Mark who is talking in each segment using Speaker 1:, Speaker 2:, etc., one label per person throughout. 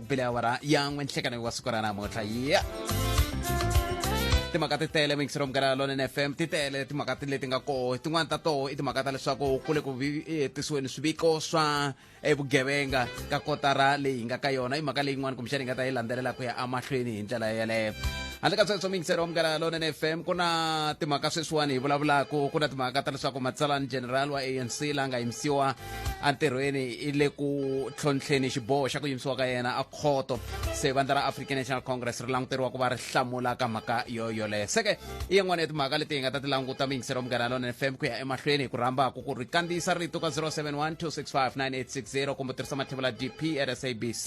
Speaker 1: bile awara ya n'we nhlekaneko wa siku ra namuntlha ya timhaka ti tele mingisiro mugara lonene fm ti tele timhaka ti leti nga koho tin'wani ta toho i timhaka ta leswaku ku le ku vi- eh, tisiweni swiviko swa eh, vugevenga ka kotara leyi hi nga ka yona i mhaka leyin'wani kumbexani hi nga ta yi landzelela ku ya emahlweni hi ndlela yeleyo handle ka sweswo mingisero wa mugara lonene fm ku na timhaka sweswiwani hi vulavulaka ku na timhaka ta leswaku matsalani general wa anc la nga yimisiwa entirhweni i le ku tlhontlheni xiboho xa ku yimisiwa ka yena a khoto se vandla ra african national congress ri languteriwa ku va ri hlamula ka mhaka yo yoleyo seke i yin'wana ya timhaka leti hi nga ta ti languta miyingiselo munghana lona fm ku ya emahlweni hi ku rhamba ku ku ri kandziyisa rito ka 071 265 9860 kumbe tirhisa mathevula dp at sabc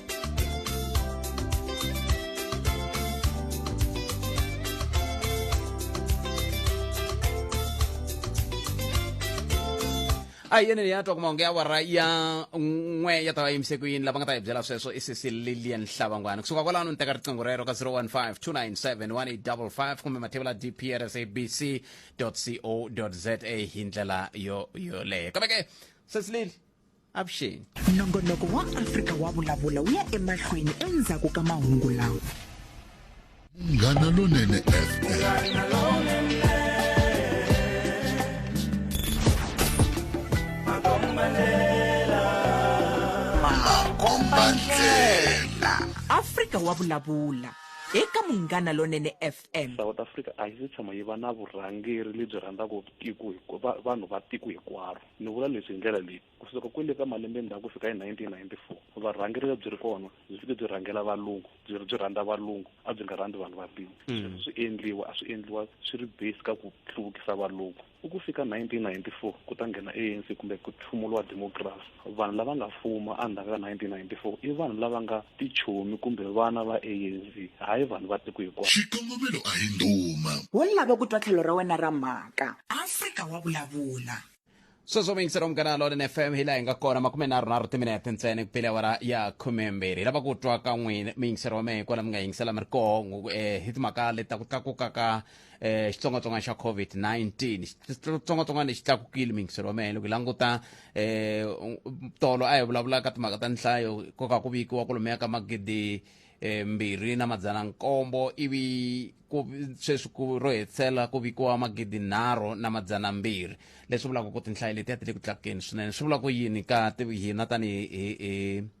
Speaker 1: a hi yene leyi a twaka mahungu ya awara ya n'we ya ta va yimise ku yini lava nga ta hi byela sweswo i sisi lilian hlavangwana kusuka kwalano ni teka riqingho rero ka 015 297 1855 kumbe mathevula dprsabc co za hi ndlela yo yoleyo kambe ke sisi lili avuxeni nongonoko wa
Speaker 2: afrika wa vulavula wu ya emahlweni endzhaku ka mahungu lawa
Speaker 3: munghana lonene fm
Speaker 2: makombandlela afrika wa vulavula eka munghana lonene fm south africa a yi se
Speaker 4: tshama yi va na vurhangeri lebyi rhandzaka tiko hinkwa- va- vanhu va tiko hinkwaro Ni vula leswi hi ndlela leyi, ku suka kwale ka malembe ndzhaku ku fika hi 1994, varhangeri lebyi ri kona byi fike byi rhangela valungu, byi ri byi rhandza valungu, a byi nga rhandzi vanhu va ntima. Sweswo swi endliwa, a swi endliwa swi ri based ka ku hluvukisa valungu. Ku ku fika 1994 ku ta nghena ANC kumbe ku tlhumuliwa democracy, vanhu lava nga fuma endzhaku ka 1994 i vanhu lava nga tichomi kumbe vana va ANC hayi vanhu va tiko hikwao. Xikongomelo a hi
Speaker 3: ndhuma. Wo lava ku twa
Speaker 2: tlhelo ra wena ra mhaka. Afrika wa vulavula. Sweswo
Speaker 1: muyingiseri wa Munghana Lonene FM hi laha hi nga kona makumenharhunharhu timinete ntsena ku pele awara ya khumembirhi. Hi lava ku twa ka n'wina muyingiseri wa mehe kwala mi nga yingisela mi ri koho eh, hi timhaka leti ta ku tlakuka ka eh, xitsongwatsongwana xa covid-19 xitsongwatsongwana lexi tlakukile mingiselo wa mehe loko hi languta eh, tolo a hi vulavulaka timhaka ta nhlayo ko ka ku vikiwa ku lomeya ka magidi eh, mbirhi na madzana nkombo ivi sweswi ku ro hetisela ku vikiwa magidi nharhu na madzana mbirhi leswi vulaka ku tinhlayo letiya ti le ku tlakukeni swinene swi vula ku yini ka hina tanihi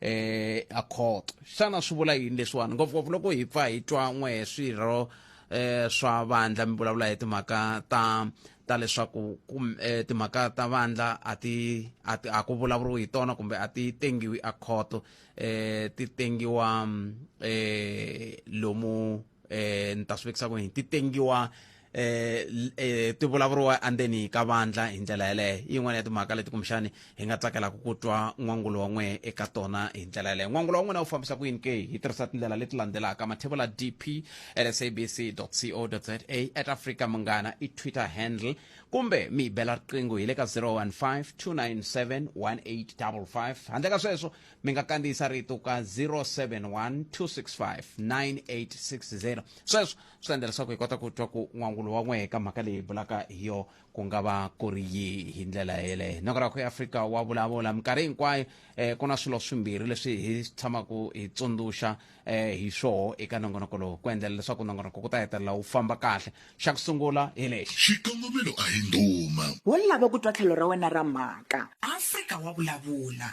Speaker 1: eh a court xana swi vula yini leswiwani ngopfungopfu loko hi pfa hi twa n'we hi swirho eh swa vandla mi vulavula hi timhaka ta ta leswaku eh, timhaka ta vandla a ti a ti a ku vulavuriwi hi tona kumbe a ti tengiwi a court eh ti tengiwa mm, eh lomu eh ni ta swi vekisa ku yini ti tengiwa eh, l- eh ti vulavuriwa andzeni ka vandla hi ndlela yeleyo i yin'wana ya timhaka leti kumbexani hi nga tsakelaka ku twa n'wangulo wa n'we eka tona hi ndlela yeleyo n'wangulo wa n'wina wu fambisa ku yini ke hi tirhisa tindlela leti landzelaka mathevula dp at sabc co za at africa munghana i twitter handle kumbe mi yi bela riqingho hi le ka 015 297 1855 handle ka sweswo mi nga kandziyisa rito ka 071 265 9860 sweswo swi endla leswaku hi kota ku twa ku n'wangulo wa n'wehe ka mhaka leyi hi bulaka hi yo ku nga va ku ri yihi hi ndlela yeleyo noko ra ku afrika wa vulavula minkarhi hinkwayo um ku na swilo swimbirhi leswi hi tshamaka hi tsundzuxa um hi swoho eka nongonoko lowu ku endlela leswaku nongonoko ku ta hetelela wu famba kahle xa ku sungula hi lexi xikongomelo a hi
Speaker 3: ndhuma wo lava ku twa tlhelo
Speaker 2: ra wena ra mhaka afrika wa vulavula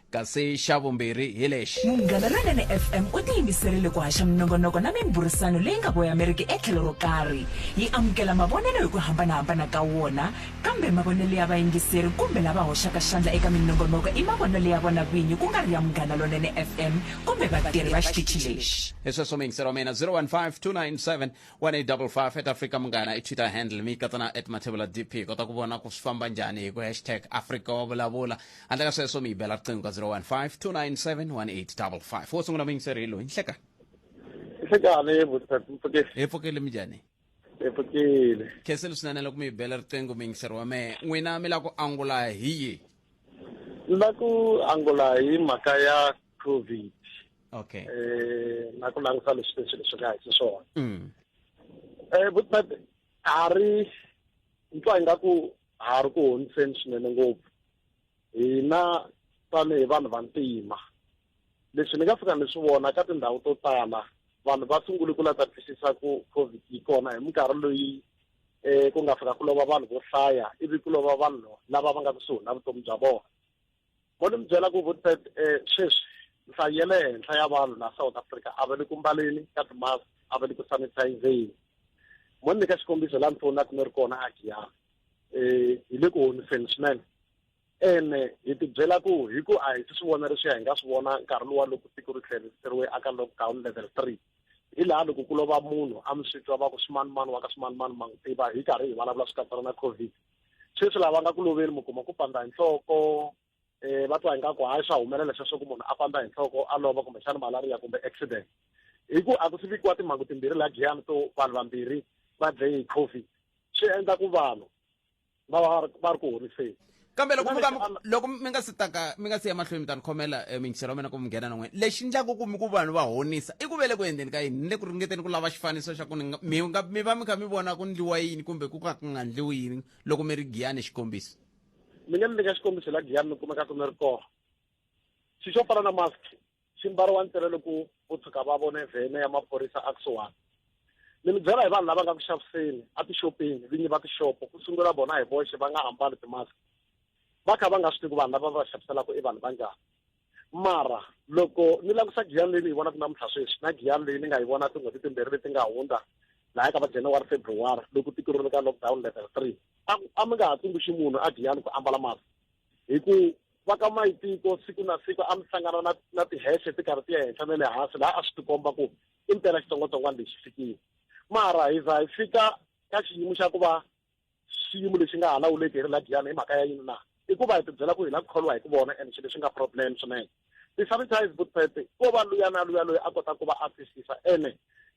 Speaker 2: kasi
Speaker 1: xa vumbirhi hi lexi munghana lonene
Speaker 2: fm u tiyimiserile ku haxa minongonoko na mimburisano leyi nga voyameriki etlhelo ro karhi yi amukela mavonelo hi ku hambanahambana ka wona kambe mavonelo ya vayingiseri kumbe lava hoxaka xandla eka minongonoko i mavonelo ya vona vinyi ku nga ri ya munghana lonene fm kumbe vatirhi va xitichi lexi hi sweswo mingisero mina
Speaker 1: 0152971855 at africa munghana i twitter handle mi katsana at mathevula dp kota ku vona ku swi famba njhani hi ku hashtag africa wa vulavula handle ka sweswo mi yi bela riqingho ka 0152971855 wo sungula muyingiseri hi loyi nhleka nhlekani
Speaker 5: mpfukile hi pfukile mi njhani
Speaker 1: hi pfukile
Speaker 5: khenseli swinene
Speaker 1: loko mi yi bela riqingho muyingiseri wa mehe n'wina mi lava ku angula hi yihi ni lava
Speaker 5: ku angula hi mhaka ya covid okay
Speaker 1: eh na
Speaker 5: ku langutisa leswi leswi leswi nga hi swona mm eh but a ri ntwa ingaku ha ri ku honiseni swinene ngopfu hina tanihi vanhu vantima leswi ni nga fika ni swi vona ka tindhawu to tala vanhu va sungule ku la ta twisisa ku covid yi kona hi minkarhi loyi um ku nga fika ku lova vanhu vo hlaya ivi ku lova vanhu lava va nga kusuhi na vutomi bya vona Mo ni mi byela ku Woodford eh, sweswi nhlayo ya le henhla ya vanhu laha South Africa a va le ku mbaleni ka timask a va le ku sanitizeni mo ni nyika xikombiso laha ni fowunaka ni ri kona a Giyani um hi le ku honiseni swinene ene hi tibyela ku hi ku a hi si swi vona leswiya hi nga swi vona nkarhi lowa loko tiko ri tlheriseriwe aka lockdown level three hi laha loko ku lova munhu a mi swi twa va ku swimanimani wa ka swimanimani ma n'wi tiva hi karhi hi vulavula swi katsana na covid sweswi lava nga ku loveli mi kuma ku pandza hi nhloko um va twa ingaku hayi swa humelela sweswo ku munhu a pandza hi nhloko a lova kumbexana malaria kumbe accident hi ku a ku si vikiwa timhangu timbirhi laha giyani to vanhu vambirhi va dlaye hi covid swi endla ku vanhu va va va ri ku horiseni kambe loko
Speaker 1: loko mi nga si taka mi nga si ya mahlweni mi ta ni khomela eh, mingiselo wa mina ku mi nghena nan'wini lexi ndlaku ku mi ku vanhu va honisa i ku vele ku endleni ka yini ni le ku ringeteni ku lava xifaniso xa ku ni nga- mi nga- mi va mi kha mi vona ku ndliwa yini kumbe ku ka ku nga ndliwi yini loko mi ri giyani xikombiso mina ni nyika
Speaker 5: xikombiso la giyani mi kumeka ku mi ri kona xi xo fana na mask xi mbariwa ntsena loko vo tshuka va vone vhene ya maphorisa a kusuwani ni mi byela hi vanhu lava nga ku xaviseni a tixopeni vinyi va tixopo ku sungula vona hi voxe va nga ambali timask va kha va nga swi tivi ku vanhu lava va xaviselaka i vanhu va njhani mara loko ni langusa giyani leyi ni yi vonaka namuntlha sweswi na giyani leyi ni nga yi vona tin'hweti timbirhi leti nga hundza laya ka va january february loko tiko ri le ka lockdown level three a mi nga ha tsundzuxi munhu a giyani ku ambala masi hi ku va ka mayitiko siku na siku a mi hlangana na na tihese ti karhi ti ya henhla na le hansi laha a swi tikomba ku i mpela xitsongwatsongwana lexi fikile mara hi za hi fika ka xiyimo xa ku va xiyimo lexi nga ha lawuleki hi ri la giyana hi mhaka ya yini na i ku va hi tibyela ku hi la ku kholiwa hi ku vona and xilo xi nga problem swinene ti-sanitize boot pet ko va luya na luya loyi a kota ku va a twisisa ene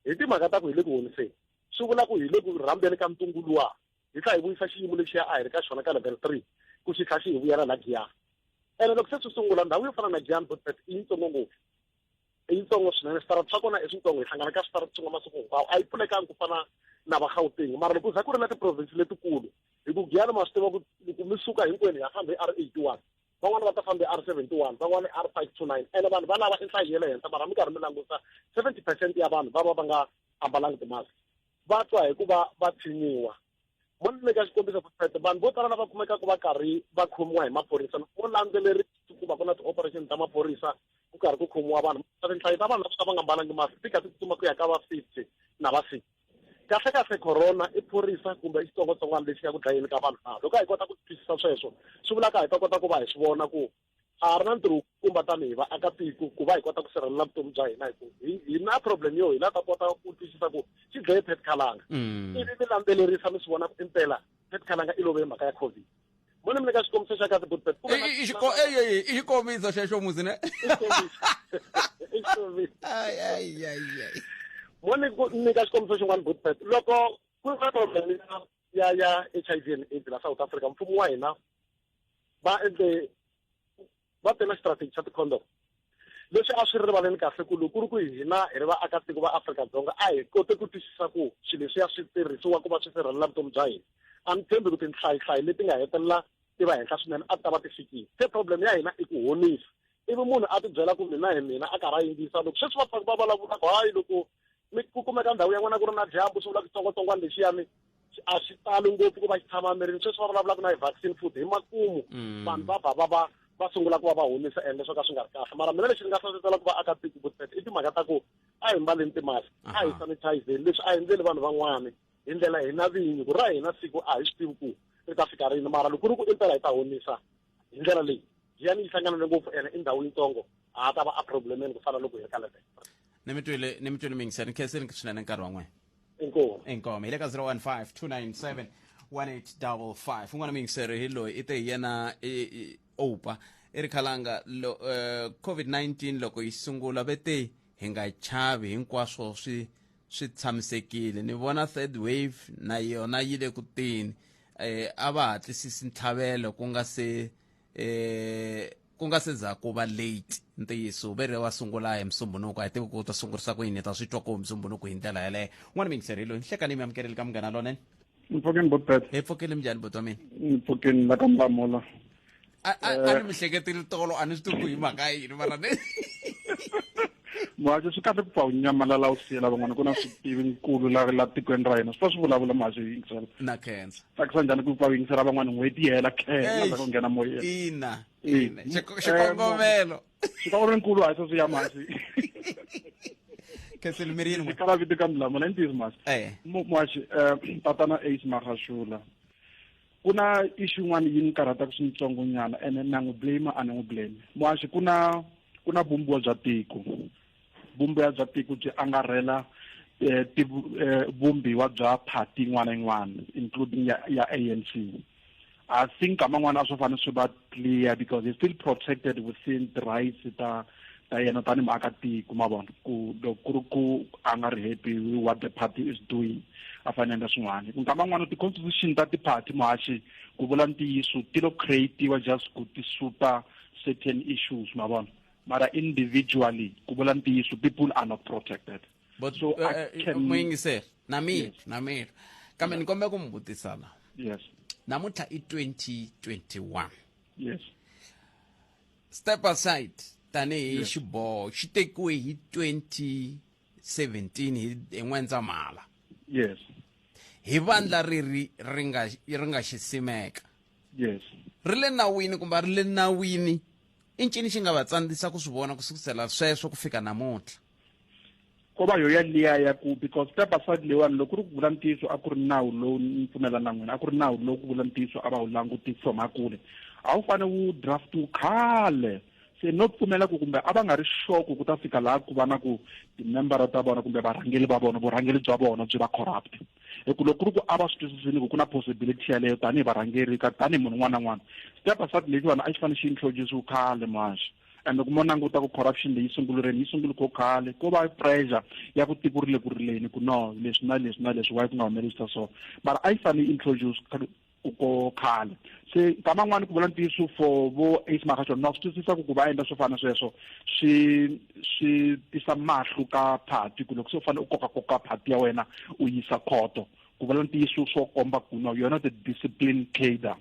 Speaker 5: hi timhaka ta ku hi le ku honiseni swi vula ku hi le ku rhambeni ka ntungu luwa hi tlha hi vuyisa xiyimo lexiya a hi ri ka xona ka level three ku xi tlha xi hi vuyela la giyana ene loko se swi sungula ndhawu yo fana na giyana boot pet i yitsongo ngopfu i yitsongo swinene switara swa kona i switsongo hi hlangana ka switara swin'we masiku hinkwawo a yi pfulekanga ku fana na va gauteng mara loko za ku ri na tiprovinsi letikulu hi ku giyana ma swi tiva ku loko mi suka hinkwenu hi ya fambe r eighty one van'wana va ta fambe r seventy one van'wana r five two nine ene vanhu va lava i nhlayo ya le henhla mara mi karhi mi languta seventy percent ya vanhu va va va nga ambalanga timask va twa hikuva va tshinyiwa mo ni nyika xikombiso profeta vanhu vo tala lava kumekaka va karhi va khomiwa hi maphorisa loko landzelerisi ku va ku na ti-operation ta maphorisa ku karhi ku khomiwa vanhu tinhlayo ta vanhu lava va nga mbalangi masi ti kha ti tsutsuma ku ya ka va fifty na va six kahle kahle corona i phorisa kumbe i xitsongwatsongwana lexi ya ku dlayeni ka vanhu na loko a hi kota ku twisisa sweswo swi vulaka hi ta kota ku va hi swi vona ku a ha ri na ntirho kumba tanihi vaakatiko ku va hi kota ku sirhelela vutomi bya hina hikuva hi na problem yo hina ta kota ku twisisa ku xi dlaye pet khalanga mm. ivi mi landzelerisa mi swi vona ku impela pet khalanga i love hi mhaka ya covid mone mi le ka xikombiso xa kahle good pet
Speaker 1: i xikombiso xexo muzi ne
Speaker 5: mone ni ka xikombiso xin'wana good pet loko ku ri na problem ya ya ya HIV and AIDS la South Africa mfumo wa hina va endle va tena strategy xa ti-condom leswi a swi ri rivaleni kahle ku loko ku ri ku hina hi ri vaakatiko va Afrika-Dzonga a hi kote ku twisisa ku swilo leswiya swi tirhisiwa ku va swi sirhelela vutomi bya hina a ni tshembi ku tinhlayihlayi leti nga hetelela ti va henhla swinene a ti ta va ti fikile se problem ya hina i ku honisa ivi munhu a tibyela ku mina hi mina a karhi a yingisa loko sweswi va pfaku va vulavulaka hayi loko mi ku kumeka ndhawu ya n'wana ku ri na dyambu swi vula xitsongwatsongwana lexiyani a xi tali ngopfu ku va xi tshama mirini sweswi va vulavulaka na hi vaccine food hi makumu mm. vanhu va ba va va va sungula ku va va humisa ende swo ka swi nga ri kahle mara mina lexi ni nga hlohlotela ku va aka tiko ku i timhaka ta ku a hi mbaleni timask a hi sanitizeni leswi a hi endleli vanhu van'wana hi ndlela hina vinyi ku ra hina siku a hi swi tivi ku ri ta fika rini mara loko ku ri ku impela hi ta honisa hi ndlela leyi jiyani yi hlangana ngopfu ene i ndhawu yitsongo a ta va a problemeni ku fana loko hi ri ka level ni mi twile
Speaker 1: ni mi twile mingisa ni khese ni swinene nkarhi wa n'wina inkomu inkomu
Speaker 5: hi le ka 015 297 1855
Speaker 1: un'wana miyingiseri hi loyi i te hi yena opa i ri khalanga lo, uh, eh, covid-19 loko yi sungula ve te hi nga chavi hinkwaswo swi swi tshamisekile ni vona third wave na yona yi le ku teni eh a va hatlisisi ntlhavelo ku nga se eh ku nga se za ku va late ntiyiso ve re wa sungula hi musumbunuko a hi tivi ku ta sungurisa ku yini ta swi twa ku musumbunuko hi ndlela yeleyo n'wana mingiseri loyi nhlekanimi amukeleli ka munghana lonene mpfukeni bot bet
Speaker 6: hi pfukeni minjhani bot wa
Speaker 1: mina mpfukeni la ka
Speaker 6: mbamola a eh.
Speaker 1: ni mi hleketeli tolo a ni swi tivi hi mhaka yini mara ni
Speaker 6: mhaxo swi kahle ku pfa u nyamalala u siyela van'wana ku na switivi nkulu la la tikweni ra hina swi fa swi vulavula mhaxo yi yingisela na khensa tsakisa
Speaker 1: njhani ku pfa u
Speaker 6: yingisela van'wana n'hweti yi hela khensa ku nghena moyeni ina ina
Speaker 1: xikongomelo xika u
Speaker 6: ri nkulu hayi sweswi ya masi
Speaker 1: khethleni mi ri yini kala vito ka milamula i
Speaker 6: ntiyiso masi eh. mwaxi um eh, tatana ace marhashula ku na ixu yin'wana yi ni karhataka swintsongo nyana ene na n'wi blame a ni n'wi blame mwaxi ku na ku na vumbiwa bya tiko vumbiwa bya tiko byi angarhela um vumbiwa bya party yin'wana yin'wana including ya ya a n c I think nkama n'wana a swi fanele swi va clear because he's still protected within the rights ta ta yena tani muakatiko ma vona ku loko ku ri ku a nga ri happy with what the party is doing a fane endla swin'wana ku nkama n'wana ti-constitution ta ti-party muhaxi ku vula ntiyiso ti lo creatiwa just ku ti suta certain issues ma vona mara individually ku vula ntiyiso people are not protected but So I eh, eh,
Speaker 1: can- muyingiseri na mina Yes. na mina kambe ni kombela ku mi vutisa la Yes. namuntlha
Speaker 6: i 2021
Speaker 1: Yes. step aside tanihi Yes. xiboho xi tekiwe hi 2017 hi hi n'wendzamhala Yes.
Speaker 6: hi
Speaker 1: vandla riri ri nga ri nga xi simeka Yes.
Speaker 6: ri le nawini
Speaker 1: kumbe a ri le nawini i ncini xi nga va tsandzisa ku swi vona ku sukusela sweswo ku fika namuntlha ko
Speaker 6: va yoya liya ya ku because ka basadi leyiwani loko ri ku vula ntiyiso a ku ri nawu lowu ni pfumela na n'wina a ku ri nawu lowu ku vula ntiyiso a va wu langutisi from hakule a wu fane wu draftiwu khale se no pfumela ku kumbe a va nga ri xoko ku ta fika laha ku va na ku timembara ta vona kumbe varhangeli va vona vurhangeli bya vona byi va corrupt hi ku loko ri ku a va swi twisisini ku ku na possibility yaleyo tanihi varhangeri ka tanihi munhu un'wana na un'wana step aside lexiwani a xi fanele xi introduciwe khale maxa kambe kuma languta ku corruption leyi sungulureni yi sungule ko khale ko va pressure ya ku tiko ri le ku rileni ku no leswi na leswi na leswi wayi ku nga humelerisa so mara a yi fanele introduce ko khale se nkama n'wani ku vula ntiyiso for vo ace makashon na swi twisisa ku ku va endla swo fana sweswo swi swi tisa mahlu ka phati ku loko se u fanele u koka koka phati ya wena u yisa khoto ku vula ntiyiso swo komba ku no yona the discipline cader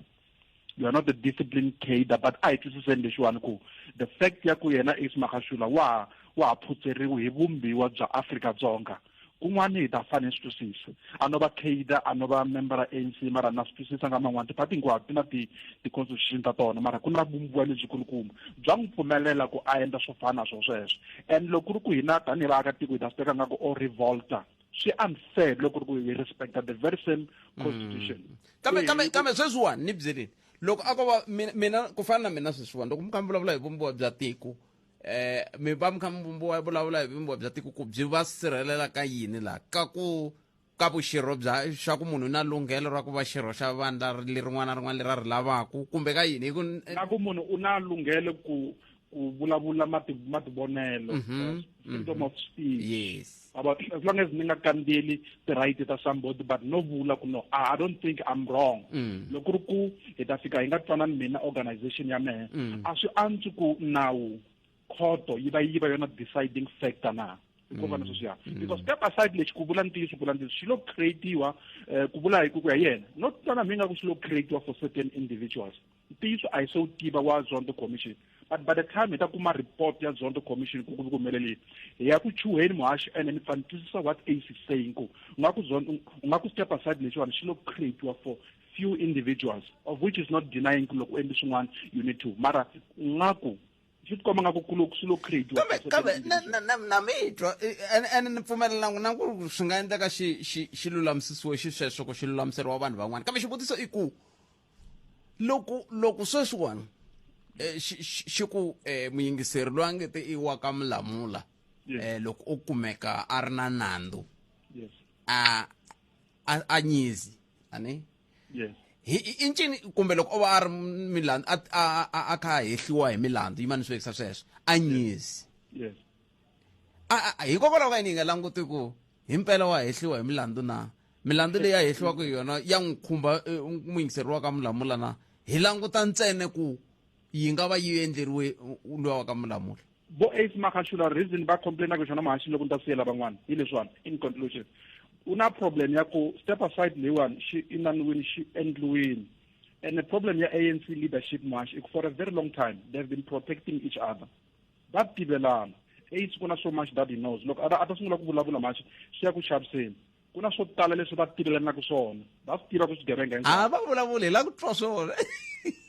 Speaker 6: you are not a disciplined cader but a hi twisiseni lexiwani ku the fact ya ku yena ace makashula wa wa ha phutseriwi hi vumbiwa bya afrika dzonga kun'wana hi ta fane swi twisisa a no va cader a no va member a anc mara na swi twisisa nga man'wana tipati hinkwato ti na ti ti-constitution ta tona mara ku na vumbiwa lebyikulukumba bya n'wi pfumelela ku a endla swo fana na swo sweswo and loko ku ri ku hina tanihi vaakatiko hi ta swi teka nga ku o revolta swi unfair loko ri ku hi respecta the very same constitution mm. kambe eh, kambe kambe
Speaker 1: sweswiwani ni byeleni loko a ko va mina ku fana na mina sweswiwani loko mi kha mi vulavula hi vumbiwa bya tiko eh mi va mi kha mi vumbiwa vulavula hi vumbiwa bya tiko ku byi va sirhelela ka yini laha ka ku ka vuxirho bya xa ku munhu na lunghelo ra ku va xirho xa vandla lerin'wana na rin'wana leri a ri lavaku kumbe ka yini hi ku na ku munhu u
Speaker 6: na lunghelo ku ku vulavula mativonelo mm -hmm. freedom mm -hmm. of speech yes about
Speaker 1: as long as ni nga
Speaker 6: kandzeli ti-right ta somebody but no vula ku no ah, i don't think i'm wrong mm. loko ri ku hi ta fika hi nga twanani mina organization ya mehe mm. a swi antswi ku nawu khoto yi va yi va yona deciding factor na hikuva na sweswiya mm. because step aside lexi ku vula ntiyiso ku vula ntiyiso xi lo creatiwa um eh, ku vula hi ku ku ya yena no twana mi nga ku xi lo creatiwa for certain individuals ntiyiso a hi se wu tiva wa zondo commission but by the time hi ta kuma report ya zondo commission ku ku humelelile hi ya ku chuheni muhaxi ene ni pfa ni twisisa what ace is saying ku u nga ku zondo u nga ku step aside lexiwani xi lo creatiwa for few individuals of which is not denying ku loko u endli swin'wana you need to mara u nga ku swi tikomba nga ku kulo swi lo creatiwa kambe kambe na- na- na-
Speaker 1: na mi twa eh, ene ene ni pfumelelanga na ku ri swi nga endleka xi xi xi lulamisiwe xisweswo ku xi lulamiseriwa vanhu van'wana kambe xivutiso i ku loko loko sweswiwani eh, xi- xi xi ku eh, muyingiseri loyi a nge te i wa ka mulamula Yes. eh, loko o kumeka a ri na nandzu yes a a a nyizi ani yes hi i- i ncini kumbe loko o va a ri milandzu a- a a- a kha a hehliwa hi milandzu yi maniswekisa sweswo a nyizi yes A- a- a- hikokwalaho ka yini hi nga languti ku hi mpela wa hehliwa hi milandzu na milandzu leyi a hehliwaka hi yona ya n'wi khumba eh, muyingiseri wa ka mulamula na hi languta ntsene ku yi nga va yi endleriwe luya wa ka mulamula vo ace makashula
Speaker 6: reason va complainaka xona mahashini loko ni ta siyela van'wana hi leswiwani in conclusion u na problem ya ku step aside leyiwani xi inaniwini xi endliwini and the problem ya anc leadership mahashi for a very long time they have been protecting each other va tivelana ace ku na so much that he knows loko a ta sungula ku vulavula mahashi swi ya ku xaviseni ku na swo tala leswi va tivelanaka swona va swi tiva ku swigevenga a va vulavuli hi la
Speaker 1: ku twa swona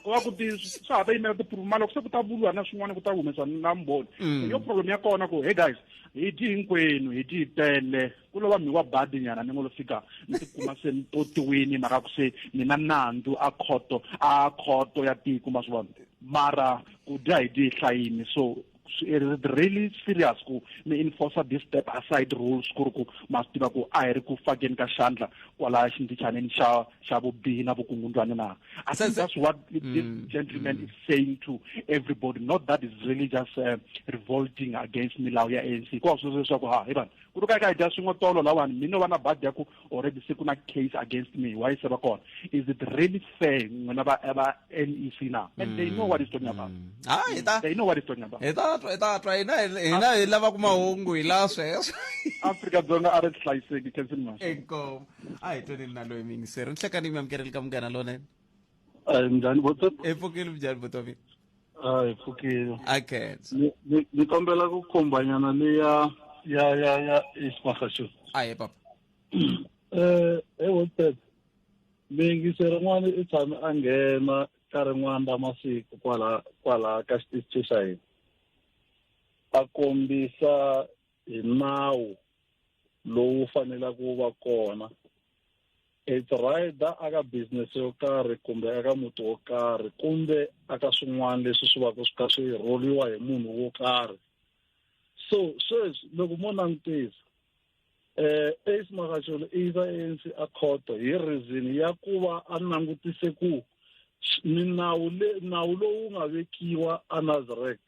Speaker 1: wa ku ti
Speaker 6: swa ha ta yimela tiphuruma loko se ku ta vuliwa na swin'wana ku ta humesa na mboni mm. yo problem ya kona ku hey guys hi dyi hinkwenu hi dyi tele ku lova mi wa badi nyana ni ngo lo fika ni tikuma se ni potiwini mara ku se ni na nandzu a khoto a khoto ya tiko ma swi vona mara ku dya hi dyi hlayini so it is really serious ku mi enforce this step aside rules ku ri ku ma swi tiva ku a hi ri ku fakeni ka xandla kwala xindichaneni xa xa vubihi na vukungundwani na i think that's what this mm, gentleman mm. is saying to everybody not that is really just uh, revolting against milawu ya anc ku wa swi leswaku ha hi vanhu ku ri ka ka hi dya swin'we tolo lawani mina va na badi ya ku already se ku na case against me why se ba kona is it really fair n'wina va va nec na and they know what is talking about ha hi ta they know what is talking about hi ta twa hi ta twa
Speaker 1: hina hi- hina hi lava ku mahungu hi la sweswo afrika dzonga a
Speaker 6: ri hlayiseki kensini masho inkomu a hi
Speaker 1: tweni na loyi mingiseri ni hlekani mi amukereli ka munghana lonene Eh, njhani
Speaker 7: botsop hi pfukile mjhani botomi
Speaker 1: Ah, hi
Speaker 7: pfukile akhensa
Speaker 1: Ni- ni- ni kombela
Speaker 7: ku kombanyana le ya ya ya ya ismagasho aye papa
Speaker 1: um he
Speaker 7: wotep miyingisi rin'wana i tshame a nghena ka rin'wana ra masiku kwala kwala ka xitichi xa hina a kombisa hi nawu lowu fanelaka wu va kona it's right aka business yo karhi kumbe aka muti wo karhi kumbe aka swin'wana leswi swi vaka swi kha swi rholiwa hi munhu wo karhi so sweswi loko mo langutisa eh ace makacholo i yisa anc a khoto hi reason ya ku va a langutise ku minawu le nawu lowu nga vekiwa a nazarek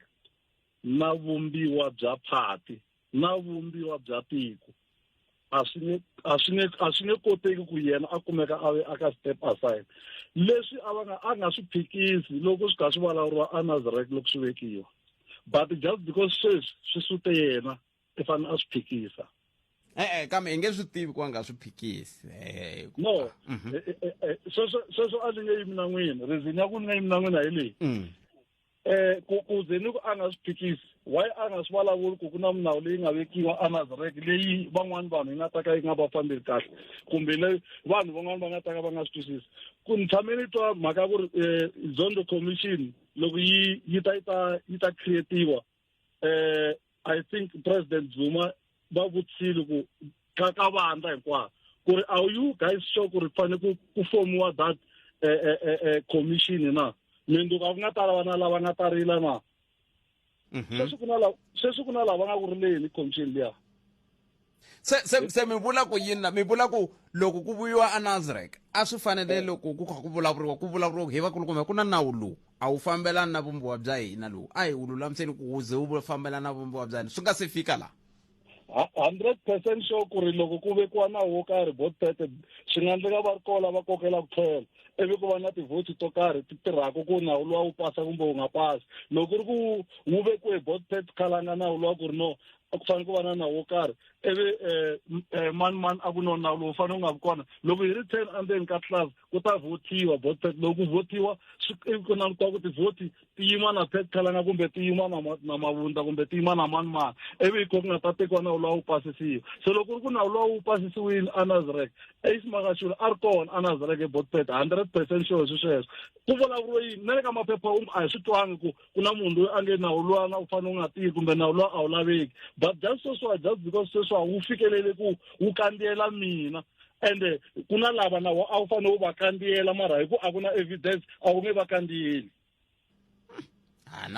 Speaker 7: na vumbiwa bya phati na vumbiwa bya tiko a swi nge a swi nge a swi nge koteki ku yena a kumeka a ve aka step aside leswi a va nga a nga swi phikisi loko swi kha swi vulavuriwa a nazarek loko swi vekiwa but just because sweswi swi sute yena i fanele a swi phikisa e-e kambe
Speaker 1: hi nge swi tivi ku a nga swi phikisi no
Speaker 7: mhm. e, e, e, sweswo a ni nge yimi na n'wina reason ya ku ni nga yimi na n'wina hi leyi mm. eh ku ku ze ni ku a nga swi phikisi why a nga swi vulavuli ku ku na milawu leyi nga vekiwa anazarek leyi van'wani vanhu yi nga ta ka yi nga va fambeli kahle kumbe leyi vanhu van'wani va nga ta ka va nga swi twisisi ku ni tshame ni twa mhaka ku ri um zondo commission loko yi yi ta yi ta yi ta creatiwa eh i think president zuma va vutshile ku ka vandla hinkwaro ku ri are you guys sure ku ri fane ku ku fomiwa that eh, eh, eh, eh commission na minduku a ku nga ta lava na lava nga ta rila na mhm. sweswi ku na lava sweswi ku na lava nga ku rileni commission liya
Speaker 1: se se se mi vula ku yini la mi vula ku loko ku vuyiwa anazarek a swi fanele loko ku kha ku vulavuriwa ku vulavuriwa hi vakulukumba ku na nawu lowu a wu fambelani na vumbiwa bya hina lowu a hi wu lulamiseni ku wu ze wu fambelana na vumbiwa bya hina swi nga se fika laha
Speaker 7: hundred percent sure ku ri loko ku vekiwa nawu wo karhi vote pete swi nga ndleka va ri kola va kokela ku tlhela ivi ku va na tivhoti to karhi ti tirhaka ku nawu luwa wu pasa kumbe wu nga pasi loko ku ri ku wu vekiwe vote pete khalanga nawu luwa ku ri no a ku fanele ku va na nawu wo karhi ivi um um mani mani a ku no nawu lowu fanele u nga vi kona loko hi ri ten endzeni ka class ku ta vhotiwa vote pack loko ku vhotiwa ivi ku langutiwa ku tivhoti ti yima na pet khalanga kumbe ti yima na na mavundza kumbe ti yima na mani mani ivi hi ko ku nga ta tekiwa nawu lowa wu pasisiwa se loko ku ri ku nawu lowa wu pasisiwile anazrek eismakashula a ri kona anazrek e vote pack hundred percent sure swi sweswo ku vulavuriwe yini na le ka maphepha a hi swi twangi ku ku na munhu loyi a nge nawu luwana u fanele u nga tiyi kumbe nawu luwa a wu laveki but just sweswiwa just because sweswiwa wu fikelele ku wu kandziyela mina ende ku na lava na a wu fanele u va kandziyela mara hi ku a ku na evidence a wu nge va kandziyeli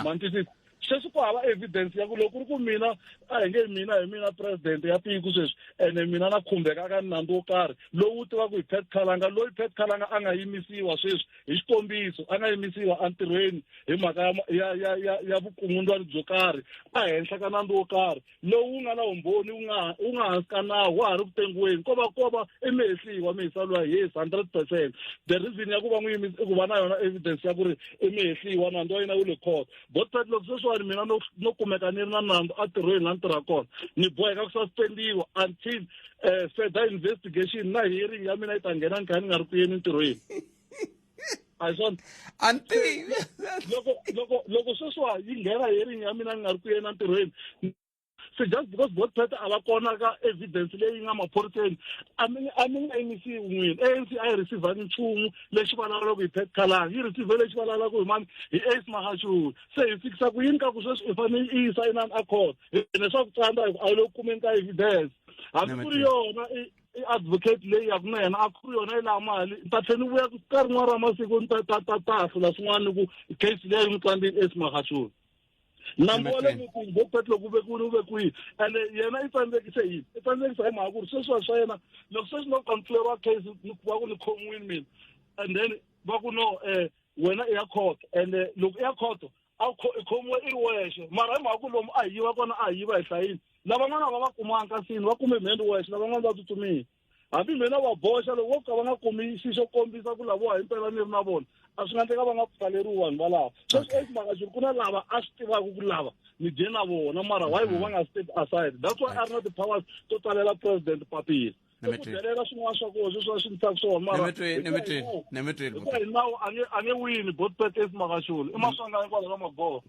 Speaker 7: mantisisi sweswi ku hava evidence ya ku loko ku ri ku mina a hi nge mina hi mina president ya tiko sweswi ene mina na khumbeka ka nandzu wo karhi lowu tivaka hi pet khalanga loyi pet khalanga a nga yimisiwa sweswi hi xikombiso a nga yimisiwa entirhweni hi mhaka ya ya ya ya, ya vukungundzwani byo karhi ehenhla ka nandzu wo karhi lowu wu nga na vumbhoni wu nga wu nga hansi ka nawu wa ha ri ku tengiweni ko va ko va i mihehliwa mihisalo ya yes hundred percent the reason ya ku va n'wi yimisa i ku va na yona evidence ya ku ri i mihehliwa nandzu wa yena wu le court botpet loko sweswiwani mina no no kumeka ni ri na nandzu a tirhweni la ni tirha kona ni boheka ku suspendiwa until um further investigation na hearing ya mina yi ta nghena ni kha ni nga ri ku yeni ntirhweni a hi swona anti loko loko loko sweswiwa yi nghena hearing ya mina ni nga ri ku yena ntirhweni so just because both party a va kona ka evidence leyi nga maphoriseni a mi a mi nga yimisiwi n'wini anc a yi receivangi nchumu lexi vulavulaka hi pet calanga yi receive lexi vulavulaka hi mani hi ace mahashuri se hi fikisa ku yini ka ku sweswi i fanele i yisa inani a court hine swa ku tsandza hi ku a yi le ku kumeni ka evidence hambi ku ri yona i-advocate leyi yaku na yena a ku ri yona yi laha mali ni ta tlhela ni vuya ka rin'wana ra masiku ni ta ta ta ta hlula swin'wana ni ku case leyi ni tsandzini ace mahashuri langole ku bo petlo ku ve ku ri ve kwihi ene yena i tsandzekise yini i tsandzekise hi mhaka ku ri sweswiwa swa yena loko sweswi no kampfuleriwa case va ku ni khomiwini mina and then va ku no um wena i ya khoto and loko i ya khoto a i khomiwe i ri wexe mara hi mhaka ku lomu a hi yiva kona a hi yiva hi hlayini lavan'wana a va va kumanga kasini va kume mheni wexe lavan'wana va tsutsumile hambi mina va boxa loko vo ka va nga kumi xi xo kombisa ku lavowa hi mpela ni ri na vona a swi nga ndleka va nga pfaleriwi vanhu valava sweswi okay. esimaka xi ri ku na lava a swi tivaka ku lava ni dye na vona mara why vo va nga step aside that's why a ri na ti-powers to tsalela president papila ikudelela swin'wana swa kona sweswi va swi ndlisaka swona marahikuva hi nawu a nge wini both pete esimakaxoni i maswanga hikwalaho ka
Speaker 1: magoho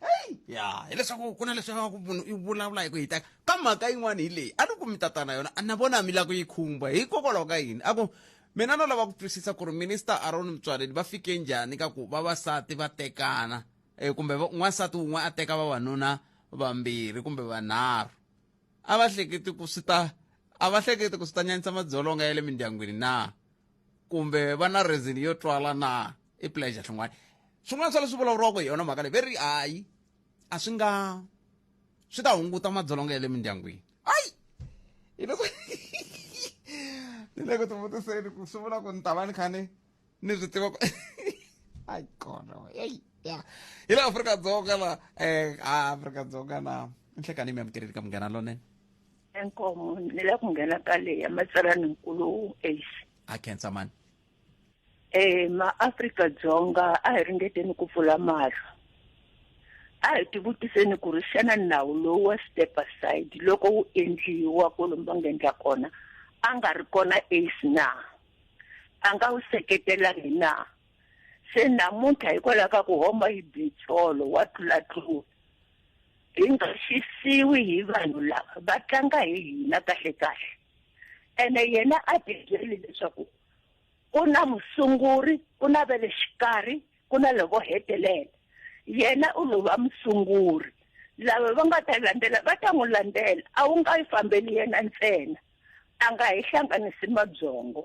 Speaker 1: heyi ya hileswaku ku na leswi ku munhu i vulavula hi ku hitaka ka mhaka yin'wana hi leyi a ni kumi tatana yona a na vona mi la ku yi khumba hikokwalaho ka yini a ku mina no lava ku twisisa ku ri minista aron mutswaleni va fike njhani ka ku vavasati va tekana um kumbe n'wansati wun'we a teka vavanuna vambirhi kumbe vanharhu a va hleketi ku swi ta a va hleketi ku swi ta nyanyisa madzolonga ya le mindyangwini na kumbe va na reason yo twala na i pleasure swin'wana swin'wana swa leswi vulavuriwaka hi yona mhaka leyi ve ri hayi a swi nga swi ta hunguta madzolonga ya le mindyangwini ayi hi loko ni le ku tivutiseni ku swi vula ku ni ta va ni kha ni ni swi tiva ku ayi kona eyi ya hi le afrika-dzonga la um afrika-dzonga na ni hleka ni mi amukeleli ka munghana lonene enkomo ni
Speaker 8: la ku nghena ka leya matsalaninkulu ace a khensa mani
Speaker 1: eh maAfrika
Speaker 8: Dzonga a hi ringeteni ku pfula mahlo a hi tivutiseni ku ri xana nawu lowu wa step aside loko wu endliwa kwalomu va nga endla kona a nga ri kona ace na a nga wu seketelangi na se namuntlha hikwalaho ka ku homa hi bitsolo wa tlulatlula hi nga xisiwi hi vanhu lava va tlanga hi hina kahle kahle ene yena a ti byeli leswaku ku na musunguri ku na ve le xikarhi ku na lovo hetelela yena u lo va musunguri lava va nga ta landzela va ta n'wi landzela a wu nga yi fambeli yena ntsena a nga hi hlanganisi mabyongo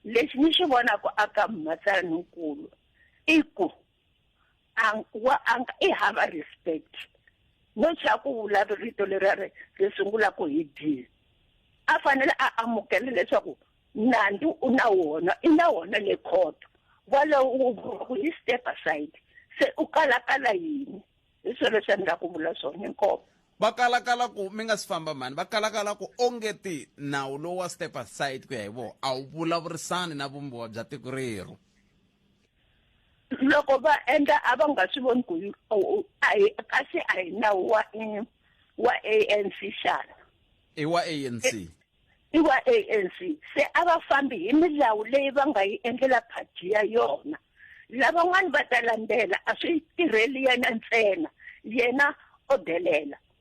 Speaker 8: lexi ni xi vonaka aka mhatsaninkulu i ku ang wa ang i hava respect no xa ku vula rito leri ri ri sungula ku hi d a fanele a amukela leswaku nandzu u na wona i na wona le court walowo wu vuriwa ku yi step aside se u kalakala yini hi swona leswi a ni la ku vula swona inkomo va
Speaker 1: kalakala ku mi nga si famba mhani va kalakala ku ongeti nawu lowu wa step aside ku ya hi vona a wu vulavurisani na vumbiwa bya tiko rero
Speaker 8: loko va endla a va nga swi voni ku kasi a hi nawu wa wa ANC xana i wa
Speaker 1: ANC e, i wa
Speaker 8: ANC se a va fambi hi milawu leyi va nga yi endlela party ya yona lavan'wana va ta landzela a swi tirheli yena ntsena yena o delela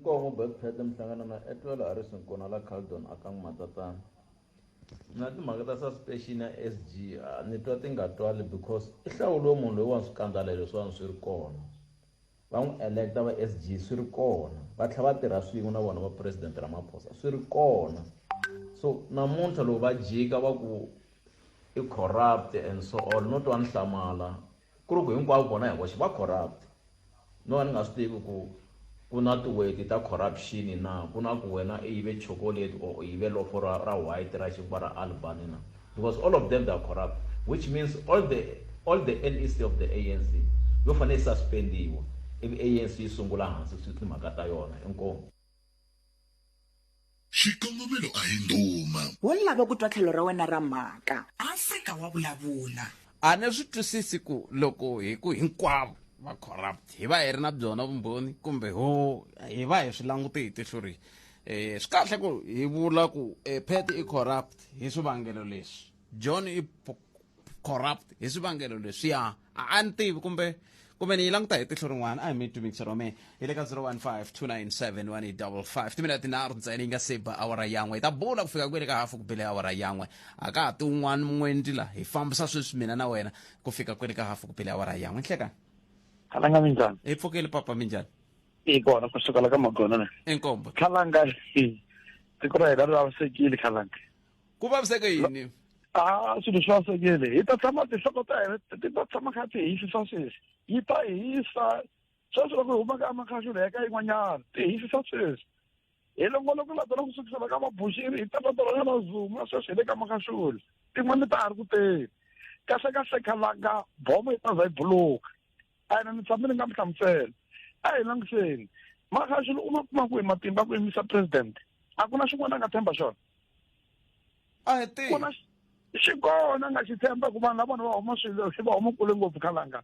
Speaker 1: nkwavo
Speaker 9: betpet mihlangano na etwelo a ri swinkona la caldon a ka n'wamatatana na timhaka ta suspension ya s g a ni twa ti nga twali because i hlawuliwe munhu loyi wa ni swikandzala leswi wa ni swi ri kona va n'wi electa va s g swi ri kona va tlhela va tirha swin'we na vona va president ramaphosa swi ri kona so namuntlha loko va jika va ku i corrupt and so on no twa ni hlamala Ku ri ku hinkwavo vona hi voxe va corrupt. No va ni nga swi tivi ku ku na tiweti ta corruption na, ku na ku wena i yive chocolate or u yive lofo ra ra white ra xinkwa ra Albany na, because all of them they are corrupt which means all the all the NEC of the ANC yo fane yi suspendiwa ivi ANC yi sungula hansi timhaka ta yona. Inkomu.
Speaker 3: Xikongomelo a hi ndhuma. Wo lava ku twa
Speaker 2: tlhelo ra wena ra mhaka. Afrika wa vulavula. A ni swi
Speaker 1: twisisi ku loko hi ku hinkwavo va corrupt hi va hi ri na byona vumbhoni kumbe ho hi va hi swi langute hi tihlo rihi. Swi kahle ku hi vula ku Pat i corrupt hi swivangelo leswi. john i p- corrupt hi swivangelo leswiya a a ni tivi kumbe kumbe ni yi languta hi tihlo rin'wana a hi mi twi mixer wa me hi le ka 0152971855 timinete tinharhu ntsena yi nga se ba awara yan'we hi ta bula ku fika kwele ka hafu ku bele awara yan'we a ka ha ti un'wana mun'wendi la hi fambisa sweswi mina na wena ku fika kwele ka hafu ku bele awara yan'we nhlekani khalanga
Speaker 5: minjhani hi pfukeli papa minjhani
Speaker 1: i kona ku
Speaker 5: sukela ka magonana enkombo khalanga tiko ra hina ri vavisekile khalanga ku vaviseke
Speaker 1: yini a swilo swi
Speaker 5: vavisekile hi ta tshama tinhloko ta hina ti ta tshama kha ti hisisa sweswi yi ta hisa sweswi loko hi huma ka amakhaxula ya ka yin'wanyana ti hisisa sweswi hi longolo ku latela ku sukisela ka mabuxiri hi tatatela ka mazuma sweswi hi le ka makaxula tin'wana ta ha ri ku teni kahlekahle khalanga bomo yi ta za yi buluka ene ni tshame ni nga mi hlamusela a hi langutiseni maxilo u ma kuma ku hi matimba ku yimisa president a ku na xin'wana a nga tshemba xona
Speaker 1: a hi tihi xi
Speaker 5: kona a nga xi tshemba ku vanhu lavona va huma swilo xi va huma kule ngopfu khalanga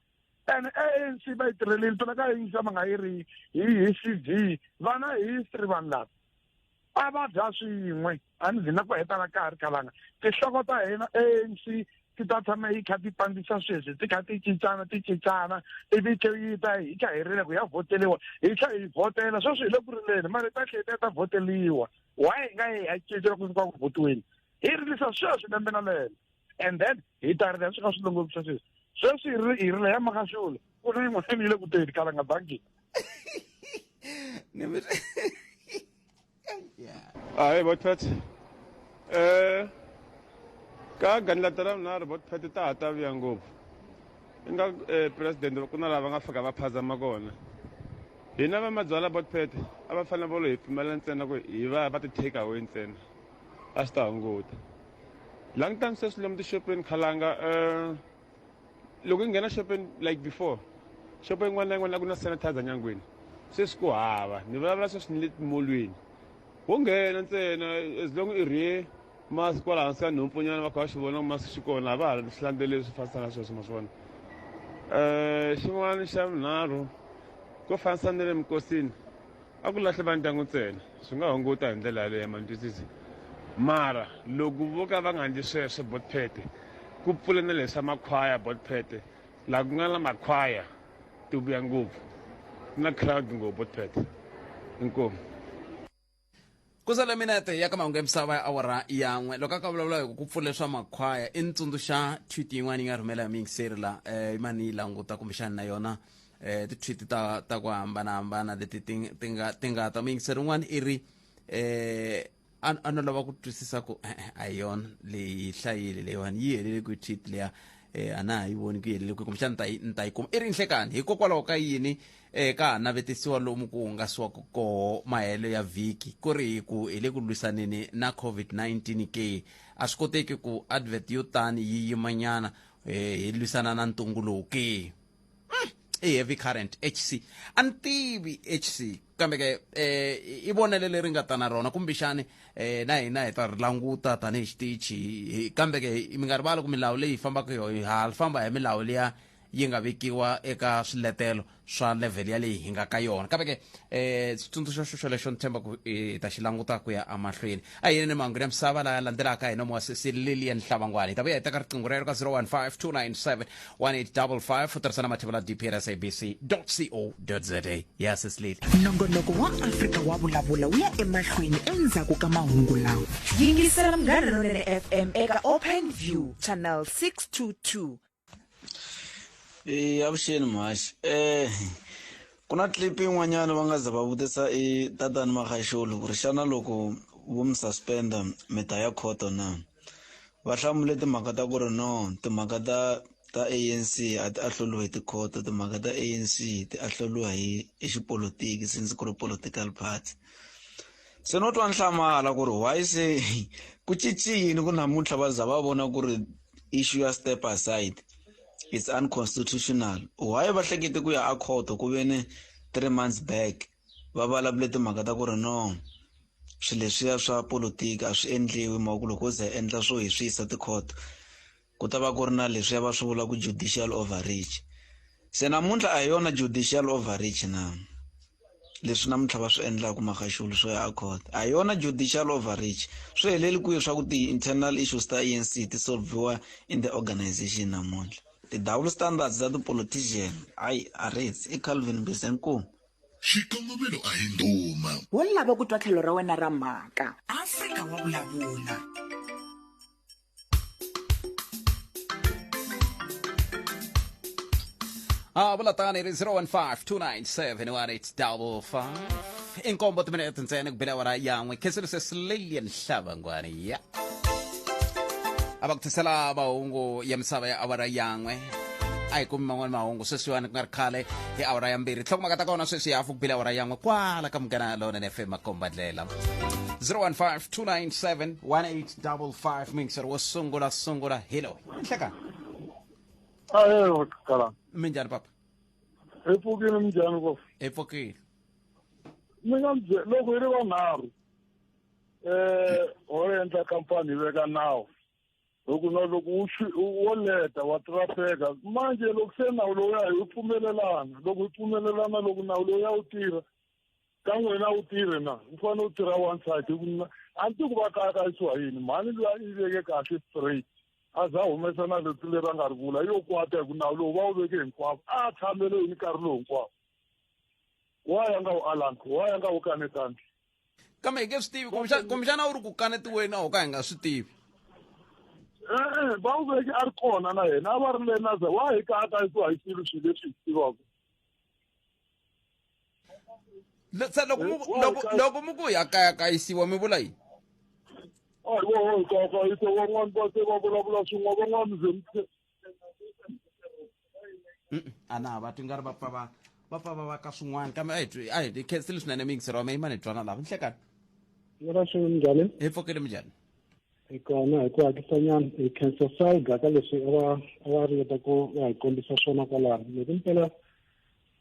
Speaker 5: ene anc va yi tirhelile phela ka yingisa va nga yi ri hi hi c v vana hi history vanhu lava a va dya swin'we a ni vhina ku hetala ka ha ri kalanga tinhloko ta hina anc ti ta tshama yi kha ti pandzisa sweswi ti kha ti cincana ti cincana ivi ke yi ta hi kha hi rile ku ya vhoteliwa hi tlhe hi vhotela sweswi hi le ku rileni mara ta tlhe ta ta vhoteliwa why hi nga yi ya cincela ku fika ku vhotiweni hi rilisa sweswi lembe na lembe and then hi ta rila swi kha swi longolisa sweswi sweswi hi ri hi rila ya makaxula ku ri yin'wana mi yile ku teni kala nga bangini
Speaker 10: hayi bot pet um eh, ka ganilata ra mina ri bot pet ta ha ta vuya ngopfu i nga um eh, presidente ku na lava nga fika va phazama kona hina va mabyala bot pet a va fanele volo hi pfumela ntsena ku hi va va ti-take away ntsena a swi ta hunguta Long time sweswi lomu tixopeni khalanga um loko i nghena xopeni like before xopo yin'wana na yin'wana a ku na sanitizer nyangweni sweswi ku hava ni vulavula sweswi ni le timolweni wo nghena ntsena as long i rhe masi kwala hansi ka nhompfonyana va kha va xi vona ku masi xi kona a va ha swi landzeleli swi fanisa na sweswo ma swi vona um xin'wana xa vunharhu ko fanisa ni le minkosini a ku lahle va ndyangu ntsena swi nga hunguta hi ndlela yaleyo mantwisisi mara loko vo ka va nga ndli sweswo botphete ku pfula na leswa makhwaya botphete laha ku nga na makhwaya ti vuya ngopfu na crowd ngopfu botphete inkomu
Speaker 1: ku sale minete ya ka mahungu ya misava ya awara yan'we loko a ka vulavula hi ku pfula swa makhwaya i ni tsundzuxa tweet yin'wana yi nga rhumela hi miyingiseri la um yima ni yi languta kumbexani na yona um ti-tweet ta ta ku hambanahambana leti ti ti nga ti nga ta muyingiseri un'wana i ri um a no lava ku twisisa ku e-e a hi yona leyi hlayile leyiwani yi helele kwi tweet leya um a na ha yi voni ku yi helele kwi kumbexani ni ta yi ni ta yi kuma i ri nhlekani hikokwalaho ka yini E ka ha navetisiwa lomu ku hungasiwaka koho mahelo ya vhiki ku ri hi ku hi le ku lwisaneni na COVID-19 ke a swi koteki ku advert yo tani yi yimanyana eh, hi lwisana na ntungu lowu ke i heavy current hc a ni tivi hc kambe ke eh, i vonelo leri nga ta na rona kumbexani eh, na hina hi ta ri languta tanihi xitichi Hi- kambe ke mi nga rivali ku milawu leyi hi fambaka hi yoho ha famba hi milawu leya yi nga vekiwa eka swiletelo swa level ya leyi hi nga ka yona kambe ke um xitsundzuxo xo xolexo ni tshemba ku hi ta xi languta ku ya emahlweni a hi ni mahungu ya misava laya landzelaka hi nomo wa sesi lilian hlabangwani hi ta vuya hi teka riqingho rero ka 015 297 1855 u tirhisa na mathevula dpr sabc co za ya sesi lili nongonoko wa
Speaker 2: afrika wa vulavula wu ya emahlweni endzhaku ka mahungu lawa yingisela mgharhi lonene fm eka open view channel 622
Speaker 11: Eh avuxeni mhaxi eh ku na clip yin'wanyana va nga za va vutisa i tatani Magaxulu ku ri xana loko vo mi suspender mi ta ya court or na va hlamule timhaka ta ku ri no timhaka ta ta ANC a ti ahloliwe hi ti-court timhaka ta ANC ti ahloliwa hi hi xipolotiki since ku ri political party se no twa nhlamahala ku ri why se ku cinci yini ku namuntlha va za va vona ku ri issue ya step aside it's unconstitutional why va hlekete ku ya a court ku ve ni three months back va vulavule timhaka ta ku ri no swilo leswiya swa politiki a swi endliwi mhaka ku loko u ze endla swo hi swi yisa tikhoto ku ta va ku ri na leswiya va swi vula ku judicial overreach se namuntlha a hi yona judicial overreach na leswi namuntlha va swi endlaka makaxulu swo ya court a yona judicial overreach swi heleli kwihi swa ku ti-internal issues ta anc ti solviwa in the organization namuntlha ti-double standards ta ti-politician hayi a rits i calvin bisenkumu xikongomelo
Speaker 3: a hi ndhuma wo lava ku twa tlhelo
Speaker 2: ra wena ra mhaka afrika wa vulavula
Speaker 1: Ah, vula tani ri 015-297-1855 inkombo timinete ntsena kubela wara yan'we kheselise silelian hlavangwani ya a va ku tisela mahungu ya misava ya awara yan'we a hi kumi man'wani mahungu sweswiwani ku nga ri khale hi awara ya mbirhi tlhokumaka ta kona sweswi hafu kubile awara yan'we kwala ka munghana lona ni fm makombandlela 015 297 18 double five mixer wo sungula sungula hello nhleka ayo
Speaker 5: kala minjhani papa
Speaker 1: hi pfukile
Speaker 5: minjhani ko hi pfukile mi nga bye loko hi ri vanharhu um ho endla kampani hi veka nawu loko na loko wo leta wa trafeka manje loko se nawu lowuya hi pfumelelana loko hi pfumelelana loko nawu lowuya wu tirha ka n'wina wu tirhe na wu fanele wu tirha wansati hi ku mina a ni ti ku va kaya ka yisiwa yini mhani loyi a yi veke kahle straight a za humesa na leti leri a nga ri vula yo kwata hi ku nawu lowu va wu veke hinkwavo a tshamele yini nkarhi lowu hinkwavo wa ya nga wu alangi wa ya nga wu kanetangi kambe hi nge
Speaker 1: swi tivi kumbexana kumbexana a wu ri ku kanetiweni a ho ka hi nga swi tivi e-e
Speaker 5: va wu veke a ri kona na yena a va ri le naza wa hi ka a ka yisiwa hi swilo swilo leswi hi swi tivaka
Speaker 1: Lo- se loko mu ku- loko loko mu ku ya kaya kayisiwa mi vula yini a hi voho hi kayakayisa van'wani va
Speaker 5: se va vulavula swin'wa van'wani ze mi-
Speaker 1: Mm-mm. a na va twi nga ri va pfa va va pfa va va ka swin'wana kambe a hi twi a hi hi khensile swinene mi yingiseriwa mi yima ni twana lava nhlekani Yora swi
Speaker 12: njhani? hi pfokele mi njhani
Speaker 1: Hi kona
Speaker 12: hi ku hakisa nyana hi khensa salga ka leswi a va a va ringeta ku va hi kombisa swona kwalano. Loko mpela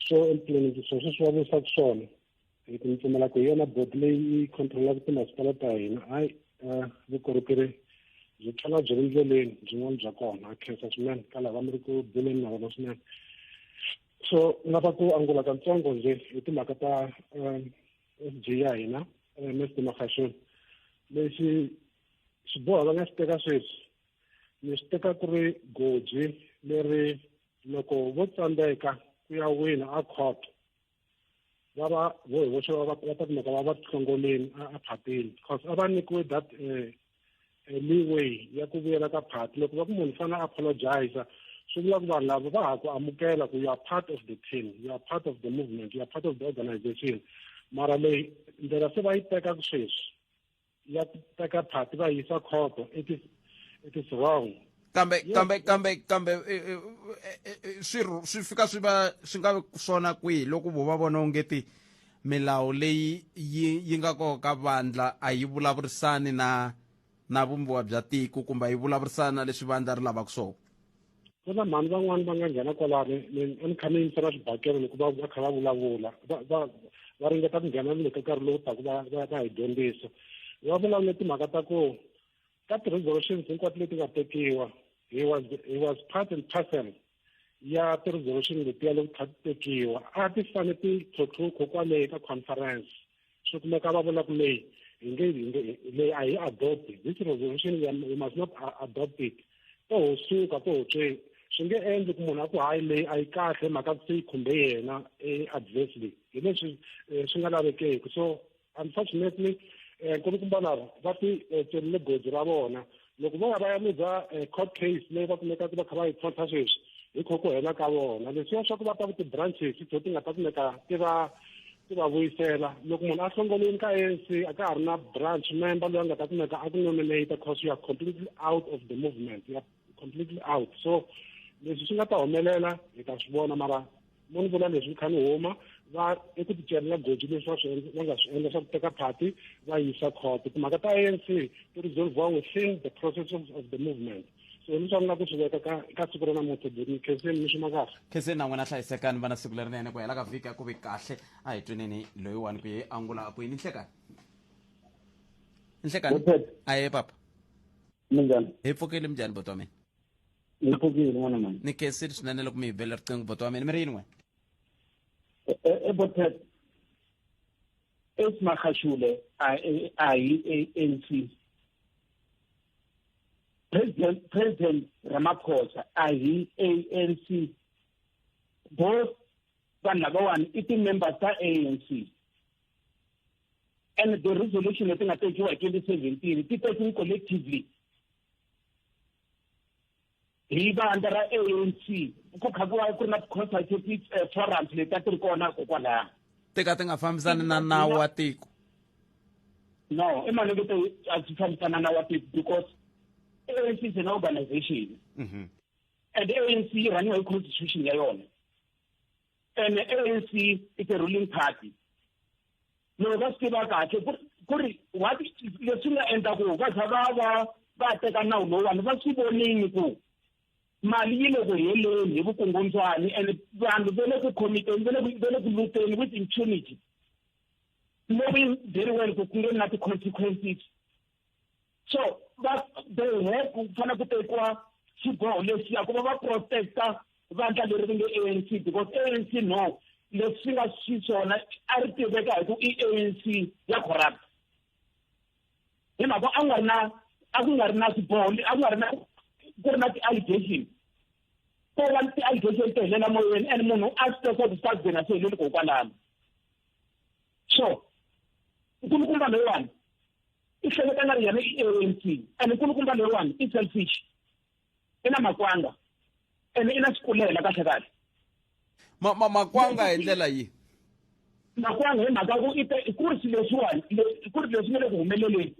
Speaker 12: so emtliliniki swo sweswi va vuyisaka swona hi ku ni pfumela ku hi yona bodi leyi yi controlaka timasipala ta hina hayi eh, vukorhokeri byi tlhela byi ri ndleleni byin'wana bya kona a khensa swinene ka lava mi ri ku buleni na vona swinene so ni lava ku angula katsongo nje hi timhaka ta eh, s g ya hina eh, msd makhashoni lexi xiboho va nga xi teka sweswi ni swi teka ku ri goji leri loko vo tsandzeka ku ya wina a court va va vo hi voxe va ta kumeka va va tihlongoleni a phatini because a va nyikiwe that eh, eh, leeway ya ku vuyela ka phati loko va ku munhu fana apologiza swi vula ku vanhu lava va ha ku amukela ku you are part of the team you are part of the movement you are part of the organization mara leyi ndlela se va yi teka ku sweswi ya teka phati va yisa khoto it is it is wrong kambe yes. kambe
Speaker 1: kambe kambe e, e, e, swi swi fika swi va swi nga swona kwihi loko vo va vona onge ti milawu leyi yi yi nga kona ka vandla a yi vulavurisani na na vumbiwa bya tiko kumbe a yi vulavurisani na leswi vandla ri lavaka swona ku na mhani
Speaker 12: van'wani va nga nghena kwalani a ni kha ni yingisela swibakelo loko va va kha va vulavula va va va ringeta ku nghena ni le ka nkarhi lowu taku va va va hi dyondzisa va vulavule timhaka ta ku ka ti-resolutions hinkwato leti nga tekiwa he was he was part and parcel ya ti-resolution letiya leti kha ti tekiwa a ti fane ti tlhotlhukho kwale ka conference swi kumeka va vula ku leyi hi nge hi nge leyi a hi adopt this resolution we must not adopt it to ho suka to ho tsweni swi nge endli ku munhu a ku hayi leyi a yi kahle mhaka ku se yi khumbe yena e-adversely hi leswi eh, swi nga lavekeki so unfortunately um eh, nkulukumba lava va ti eh, tselile goji ra vona loko vo ya va ya luza eh, court case leyi va kumekaka va kha va yi tlhontlha sweswi hi kho ku hela ka vona leswiya swa ku va ta ku ti-branches to ti nga ta kumeka ti va ti va vuyisela loko munhu a hlongolini ka anc a ka ha ri na branch member loyi a nga ta kumeka a ku nominate cause you are completely out of the movement you are completely out so leswi swi nga ta humelela hi ta swi vona mara mo ni vona leswi ni kha ni huma va eku ticelela goji leswi va swi va nga swi endla swa ku teka party va yisa court timhaka ta anc ti resolviwa within the process of, of the movement so ni swa ni la ku swi veka ka ka siku ra namuntlha beni khenseni ni swima kahle khenseni na n'wina hlayisekani
Speaker 1: vana siku lerinene ku hela ka vhiki a ku vi kahle a hi tweneni loyiwani ku ye angula a ku yini nhlekani nhlekani a ye papa minjhani
Speaker 13: hi pfukile minjhani
Speaker 1: botwa mina
Speaker 13: ni phukile n'wana mani ni khensile swinene loko
Speaker 1: mi hi bela riqingho bota wa mina mi ri yini wena e, e, e bota
Speaker 13: esimakhashule ayi-anc president president ramaphosa ayi-anc both vanhu lavawani i ti-members ta anc and the resolution leti nga tekiwa hi twenty seventeen ti tekiwe collectively hi vandla ra anc ku kha ku va ku ri na ti-consultative eh, forums leti a ti ri kona kokwalaya ti ka ti nga
Speaker 1: fambisani na nawu wa tiko
Speaker 13: no i mali leti a ti fambisana na wa tiko because anc is an organization mhm. and anc yi rhaniwa hi constitution ya yona and anc is a ruling party loko va swi tiva kahle ku ku ri what leswi nga endla ku va za va va va teka nawu lowuwani va swi vonini ku mali yi le ku heleni hi vukungundzwani and vanhu va le ku khomiteni va le ku va le ku luteni with impunity knowing very well ku ku nge na ti-consequences so va they have ku fanele ku tekiwa xiboho lexiya ku va va protecta vandla leri ri nge a n c because a n c no leswi swi nga swi swona a ri tiveka hi ku i a n c ya corrupt hi mhaka a nga ri na a ku nga ri na xiboho a ku nga ri na ku ri na ti-allegation ko va ni ti-allegation to helela moyeni and munhu a swi teka ku sa byena swi heleli kokwalano so nkulukumba loyiwani i hleketa nga ri yena i ANC and nkulukumba leriwani i selfish i na makwanga and i na swikulela kahle kahle ma, ma, makwanga
Speaker 1: hi ndlela yihi
Speaker 13: makwanga hi mhaka ku ite ku ri swilo leswiwani ku ri leswi nga le ku humeleleni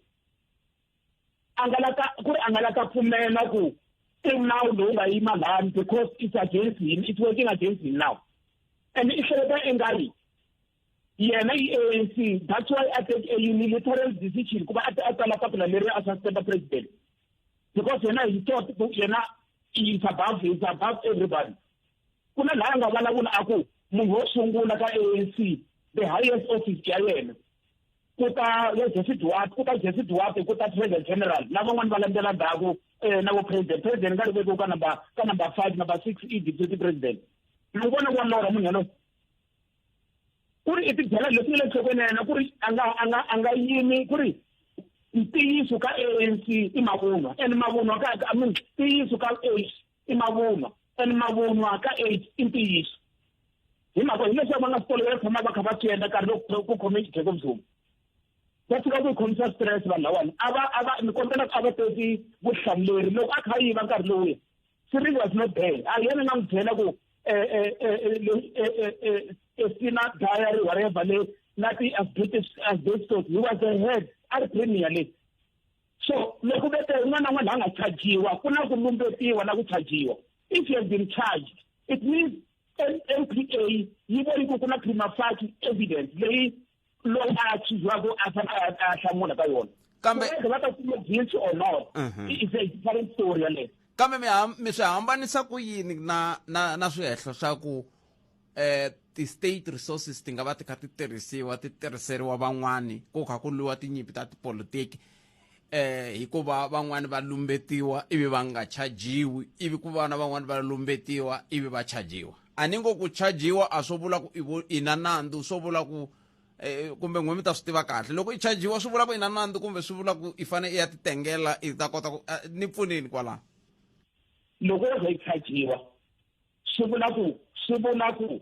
Speaker 13: a nga lata ku ri a nga lata pfumela ku i nawu lowu nga yima lani because it's against him it's working against him now and i hleketa i nga ri yena yi anc that's why a take a unilateral decision kuba a a tsala papila leri a suspenda president because yena he thought yena is above is above everybody ku na laya nga vulavula a ku munhu wo sungula ka anc the highest office ya yena ku ta ya jesse duwat ku ta jesse duwat ku ta president general na van'wani va landzela ndhaku um na vo president president nga ri vekiwa ka number ka number five number six i deputy president ni vona wa lora munhu yalowo ku ri i tidyela leswi nga le nhlokweni ya yena ku ri a nga a nga a nga yimi ku ri ntiyiso ka ANC i mavunwa and mavunwa ka I mean ntiyiso ka AIDS i mavunwa and mavunwa ka AIDS i ntiyiso hi mhaka hileswaku va nga swi tolovela tshama va kha va swi endla nkarhi loko ku khome xidleko mzuma va fika ku yi khomisa stress vanhu lawani a va a va ni kombela a va teki vutihlamuleri loko a kha a yiva nkarhi lowuya three was not there a hi yena nga n'wi byela ku esina diary whatever le na ti-asbestos asbestos he was a head a ri premier le so loko vete un'wana na un'wana la nga chajiwa ku na ku lumbetiwa na ku chajiwa if you have been charged it means mpa yi voni ku ku na prima facie evidence leyi loyi a chuzwaku a fane a hlamula ka yona kambe va ta kuma
Speaker 1: guilty
Speaker 13: or not mhm. is a different story yaleyo kambe mi mi
Speaker 1: swi hambanisa ku yini na na na swihehlo swa ku eh ti-state resources ti nga va ti kha ti tirhisiwa ti tirhiseriwa van'wani ku kha ku lwiwa tinyimpi ta tipolitiki eh hikuva van'wani va lumbetiwa ivi va nga chajiwi ivi ku vana van'wani va lumbetiwa ivi va chajiwa a ni ngo ku chajiwa a swo vula ku i na nandzu swo vula ku eh, kumbe n'we mi ta swi tiva kahle loko i chajiwa swi vula ku i na nandzu kumbe swi vula ku i fanele i ya titengela i ta kota ku eh, ni pfunini kwalano
Speaker 13: loko wo ze i chajiwa swi vula ku swi vula ku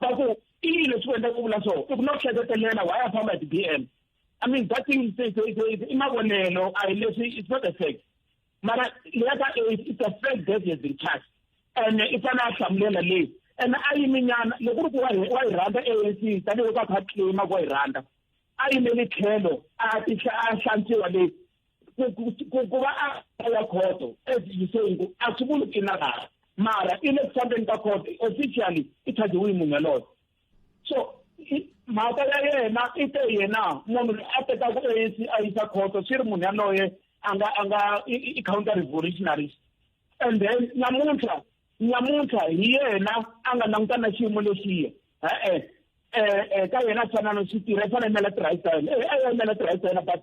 Speaker 13: va ku i yini leswi ku endla ku vula so i ku na ku hleketelela why a famba hi ti-b m i mean that thing i mavonelo a hi leswi it's not a fact mara leya ka it's a fact that has been touched ene i fanele a hlamulela leyi ene a yiminyana loko ri ku wa yi rhandza a n c tanihiloko a kha a claima ku wa yi rhandza a yimeli tlhelo a hlantswiwa leyi ku va a ya khoto as you say ku a swi vuli ku i na laha mara i le ku fambeni ka khoto officially i chajiwe munhu yaloyo so mhaka ya yena i te yena munhu loyi a tekaku anc a yisa khoto swi ri munhu yaloye a nga a nga i counter revolutionaries and then namuntlha namuntlha hi yena a nga languta na xiyimo lexiya e-e um ka yena a fanana swi tirha i fanele imela tirhayisa yena e a ya imela tirhayisa yena but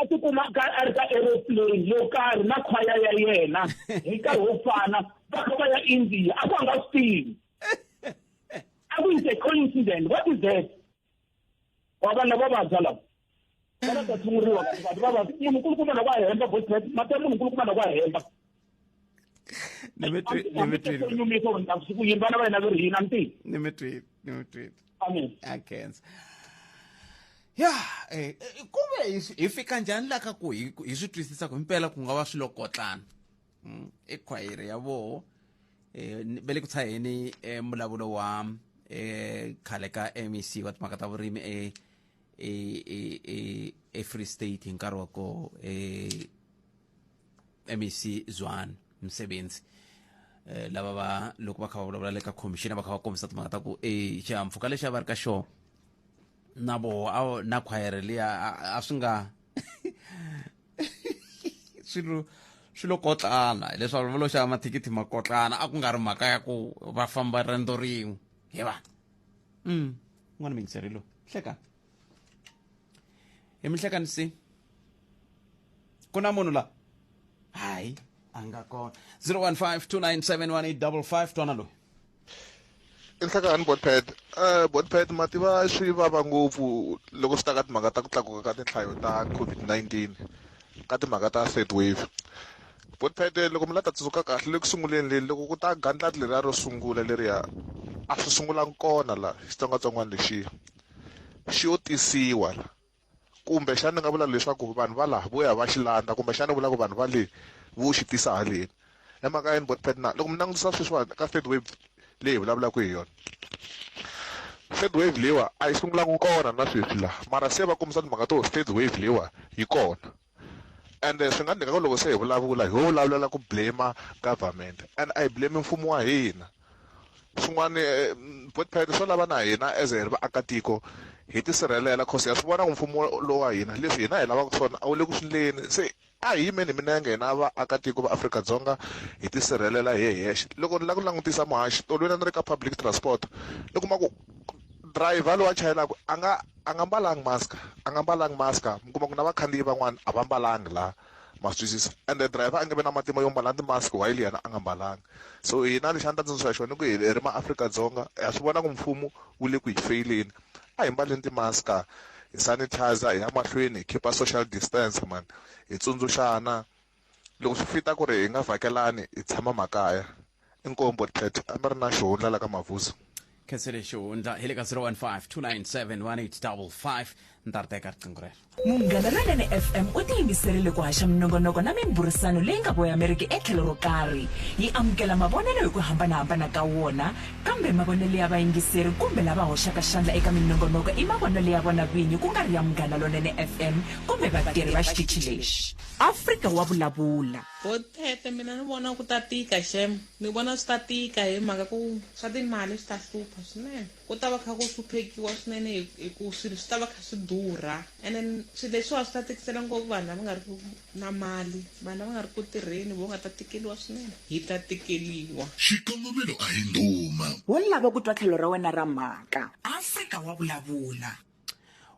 Speaker 13: a ti kumaka a ri ka aeroplane yo karhi na khwaya ya yena hi nkarhi wo fana va kha va ya india a ku nga swi tivi a ku is a coincident what is that wa vana va vabya lava vana ta tshunguriwa vanhu va vabya munhu nkulukumana ku a hemba voice mati ya munhu nkulukumana ku a hemba ni mi twi- ni mi twile nyumisa ku ta ku yini vana va hina va ri hina nti ni mi twile ni mi
Speaker 1: twile amen
Speaker 13: a khensa
Speaker 1: ya eh, eh, ku ve hi swi- hi fika njhani la ka ku hi ku- hi swi twisisa ku himpela ku nga va swilo kotlana Mm, i khwayere ya voho um ve le ku tshaheni um mbulavulo wa um khale ka mec wa timhaka ta vurimi e- e- e- e- efree state hi nkarhi wa koho um MEC Zwane Msebenzi eh, lava va loko va kha va vulavula le ka commission va kha va kombisa timhaka ta ku e xihahampfhuka lexi a va ri ka xona na voho a vo- na khwayere liya a- a swi nga swilo swilo kotlana hileswaku va lo xava mathikithi ma kotlana a ku nga ri mhaka ya ku va famba riendzo rin'we hi va mm n'wana mingiseri lowu hlekani hi mi hlekanisi ku na munhu la hayi a nga kona 015 2971855 twana loyi
Speaker 14: inhlakani botpad um eh, botpad ma tiva swi vava ngopfu loko swi ta ka timhaka ta ku tlakuka ka tinhlayo ta covid-19 ka timhaka ta third wave botpad eh, loko mi la ta tsundzuka kahle le ku sunguleni leli loko ku ta gandlati leriya ro sungula leriya a swi sungulanga kona la xitsongwatsongwana lexiya xi yo tisiwa la kumbe xana ni nga vula leswaku vanhu va laha vo ya va xi landza kumbe xana ni vula ku vanhu va le vo xi tisa haleni i mhaka yini bot pet na loko mi langutisa sweswiwani ka third wave leyi hi vulavulaka hi yona third wave leyiwa a yi sungulanga kona na sweswi laha mara se va kombisa timhaka to third wave leyiwa yi kona and swi nga ndleka loko se hi vulavula hi vulavulela ku blame government and a hi blame mfumo wa hina swin'wana eh, botpad swo lava na hina as hi ri vaakatiko hi tisirhelela cause ya swi vona ku mfumo lowu wa hina leswi hina hi lavaka swona a wu le ku swi ndleni se a hi yimeni hi minenge hina vaakatiko va afrika-dzonga hi tisirhelela hi hexe loko ni lava ku langutisa muhaxi tolweni a ni ri ka public transport ni kuma ku driver lowu a chayelaka a nga a nga mbalanga mask a nga mbalanga mask mi kuma ku na vakhandziyi van'wana a va mbalanga la ma swi twisisa and the driver a nge vi na matimba yo mbala ti-mask while yena a nga mbalanga so hina lexi a ni ta tsundzuxa xona i ku hi ri maafrika-dzonga ha swi vona ku mfumo wu le ku hi feyileni a hi mbaleni ti-mask hi sanitizer hi ya mahlweni hi khipa social distance mani hi tsundzuxana loko swi fita ku ri hi nga vhakelani hi tshama makaya inkombo tete a mi ri na xihundla la ka mavuso khensele xihundla
Speaker 1: hi le ka 015 ni ta ri teka riqingho rero munghana lonene
Speaker 2: fm u tiyimiserile ku haxa minongonoko na mimburisano leyi nga voyameriki etlhelo ro karhi yi amukela mavonelo hi ku hambanahambana ka wona kambe mavonelo ya vayingiseri kumbe lava hoxaka xandla eka minongonoko i mavonelo ya vona vinyi ku nga ri ya munghana lonene fm kumbe vatirhi va xitichi lexi Afrika wa vulavula. Botete mina
Speaker 15: ni vona ku ta tika xem ni vona swi ta tika hi mhaka ku swa timali swi ta hlupha swinene ku ta va kha ku hluphekiwa swinene hi ku swilo swi ta va kha swi durha and then swilo leswiwa swi ta tikisela ngopfu vanhu lava nga ri ku na mali vanhu lava nga ri ku tirheni vo nga ta tikeliwa swinene hi ta tikeliwa Xikongomelo a
Speaker 3: hi ndhuma. Wo lava ku twa
Speaker 2: tlhelo ra wena ra mhaka. Afrika wa vulavula.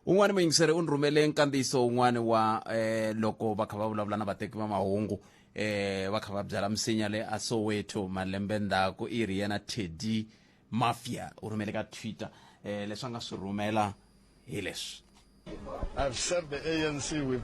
Speaker 2: un'wana
Speaker 1: muyingiseri u ni rhumele nkandziyiso un'wana wa eh, loko va kha va vulavula na vateki va mahungu eh, va kha va byala misinya le a soweto malembe ndzhaku i ri yena teddy mafia u rhumele ka twitter eh, leswi a nga swi rhumela hi leswi I've
Speaker 16: served the ANC with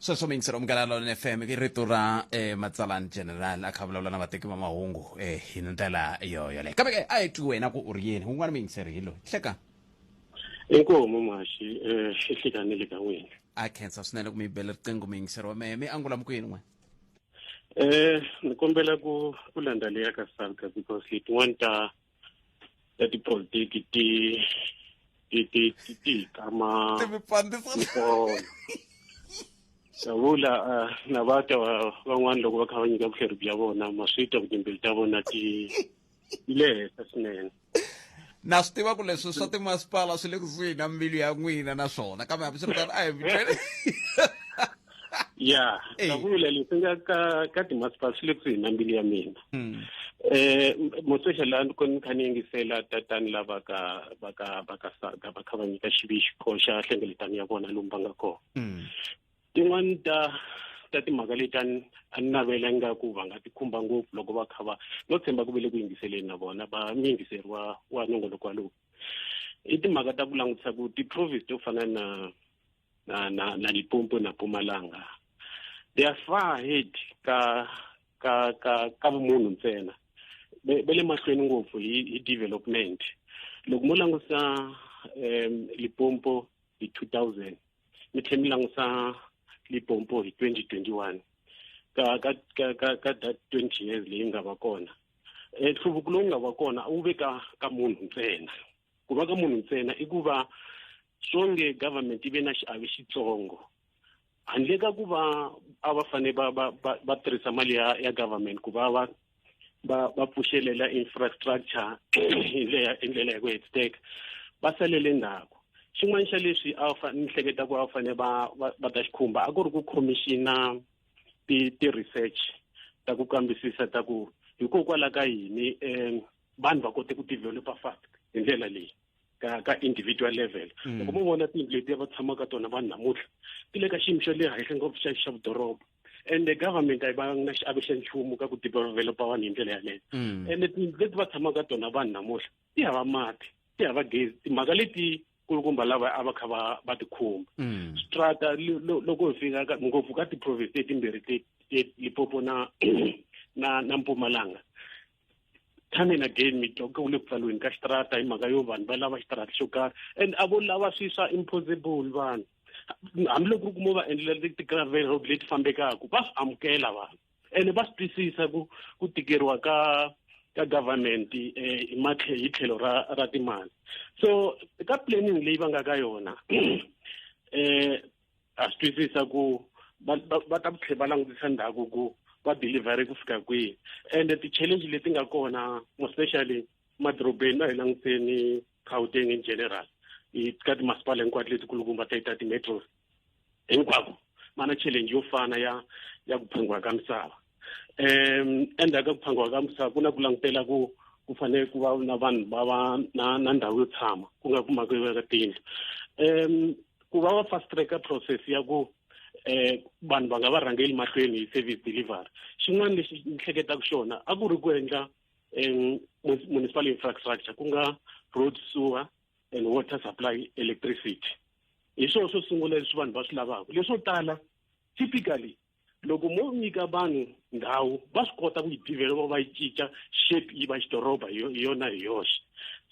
Speaker 16: sweswo mingiselo
Speaker 1: munghana lona fm i rito ra eh, matsalani general a kha vulavula na vateki va mahungu eh, hi ndlela yoyoleyo kambe ke a hi twi wena ku u ri yini un'wana muyingiseri hi loyi hleka
Speaker 17: inkomo maxi um ihlikanile ka n'wina a khensa swinene ku
Speaker 1: mi bela riqingho muyingiseri wa mehe mi angula mukuyini n'we um
Speaker 17: ni kombela ku ku landza leya ka salka because hi tin'wani ta ta tipolitiki ti ti ti ti ti kama savula eh, na va ta van'wana loko va kha va nyika vuhleri bya vona maswita ku timbili ta vona ti le henhla swinene na swi
Speaker 1: tiva ku leswi swa timasipala swi le kusuhi na mbilu ya n'wina naswona kambe hambiswiritano a hi ya
Speaker 17: Hey. ka vula leswi nga ka ka timasipala swi le kusuhi na mbilu ya mina Mm. eh mosesha la ni koni kha ni yingisela tatani lava ka va ka va ka saga va kha va nyika xivixiko xa hlengeletano ya vona lomu va nga kona Mm. tin'wani ta ta timhaka leti a ni a ni navela ingaku va nga ti khumba ngopfu loko va kha va no tshemba ku ve le ku yingiseleni na vona va ni yingiseriwa wa nongonoko walowu i timhaka ta ku langutisa ku ti-province to fana na na na na Limpopo na Mpumalanga they are far ahead ka ka ka ka vumunhu ntsena be le mahlweni ngopfu hi hi development loko mo langusa um lipompo hi 2000 mi tlhe mi langusa lipompo hi 2021 ka ka ka ka ka that 20 years leyi nga va kona nhluvuko lowu nga va kona wu ve ka ka munhu ntsena ku va ka munhu ntsena i ku va swonge government yi ve na xiave xitsongo handle ka ku va a va fane va va va, va tirhisa mali ya ya government ku va va va va pfuxelela infrastructure hi ndlela hi ndlela ya ku hetiseka va salele ndzhaku xin'wana xa leswi a va ni hleketa ku a va fane va va va ta xikhumba a ku ri ku khomixina ti ti research ta ku kambisisa ta ku hikokwalaho ka yini um vanhu va kote ku developa fast hi ndlela leyi ka ka individual level mm. loko mo vona tindlu letiya va tshamaka tona vanhu namuntlha ti le ka xiyimo xa le henhla ngopfu xa xa vudoroba and the government a yi va na xiave xa nchumu ka ku developa vanhu hi ndlela yaleyo mm. and tindlu leti va tshamaka tona vanhu namuntlha ti hava mati ti hava gezi timhaka leti kulukumba lava a va kha va va tikhumba mm. strata loko hi fika ngopfu ka ti-province letimbirhi limpopo na na na mpumalanga time and again mi twa ku le ku pfaliweni ka xitarata hi mhaka yo vanhu va lava xitarata xo karhi and a vo lava swi swa impossible vanhu hambiloko ri kuma va endlela ti-gravel road leti fambekaka va swi amukela vanhu ene va swi twisisa ku ku tikeriwa ka ka government um hi tlhelo ra ra timali so ka planning leyi va nga ka yona um ha swi twisisa ku va va ta tlhe va langutisa ndhaku ku va delivery ku fika kwihi ende ti-challenge leti nga kona mospecially madorobeni va hi languteni gauteng in general ka timasipala hinkwato letikulukumba ta ta ti-metros hinkwako va na challenge yo fana ya ya ku phungiwa ka misava um endzhaku ka ku phangiwa ka misava ku na ku langutela ku ku fanele ku va na vanhu va va na na ndhawu yo tshama ku nga ku mhaka yo veka tiyindlu um ku va va fast tracker process ya ku um vanhu va nga va rhangeli mahlweni hi service delivery xin'wana lexi ni hleketaka xona a ku ri ku endla um municipal infrastructure ku nga road sewer and water supply electricity hi swona swo sungula leswi vanhu va swi lavaka leswo tala typically loko mo nyika vanhu ndhawu va swi kota ku yi developa va yi cinca shape yi va xidoroba hi yona hi yoxe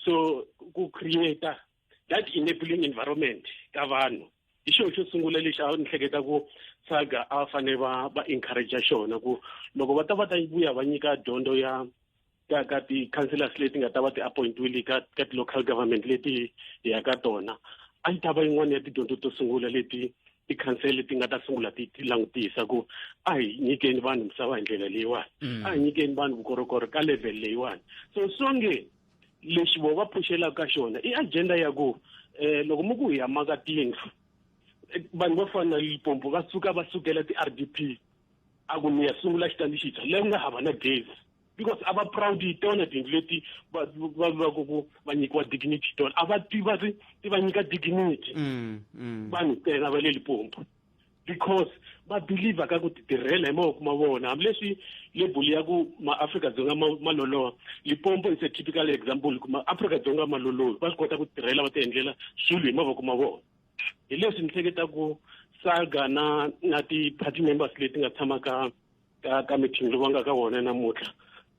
Speaker 17: so ku create that enabling environment ka vanhu hi xona xo sungula lexi a ni hleketa ku saga a fanele va va encourage xona ku loko va ta va ta vuya va nyika dyondzo ya ka ka ti-councillors leti nga ta va ti-appointiwile ka ka ti-local government leti hi ya ka tona a yi ta va yin'wana ya tidyondzo to sungula leti tikhansele leti nga ta sungula ti ti langutisa ku a hi nyikeni vanhu misava hi ndlela leyiwani mm. a hi nyikeni vanhu vukorhokori ka level leyiwani so songe lexi vo va phuxelaka ka xona i agenda ya ku um loko mi ku hi yamaka tiyindlu eh, vanhu vo fana na lipompo va suka va sukela ti-r d p a ku mi ya sungula xitandi xintshwa leyi nga hava na gezi because a va proud hi tona tiyindlu leti va va lulaka ku va nyikiwa dignity tona a va ti va ri ti va nyika dignity mm, mm. vanhu tena va le lipompo because va believer ka ku titirhela hi mavoko ma vona hambileswi lebuli ya ku maafrika dzonga ma loloha lipompo is a typical example ku maafrika dzonga ma lolohi va swi kota ku tirhela va ti endlela swilo hi mavoko ma vona hi leswi ni hleketa ku saga na na ti-party members leti nga tshama ka ka ka mithingi va nga ka wona namuntlha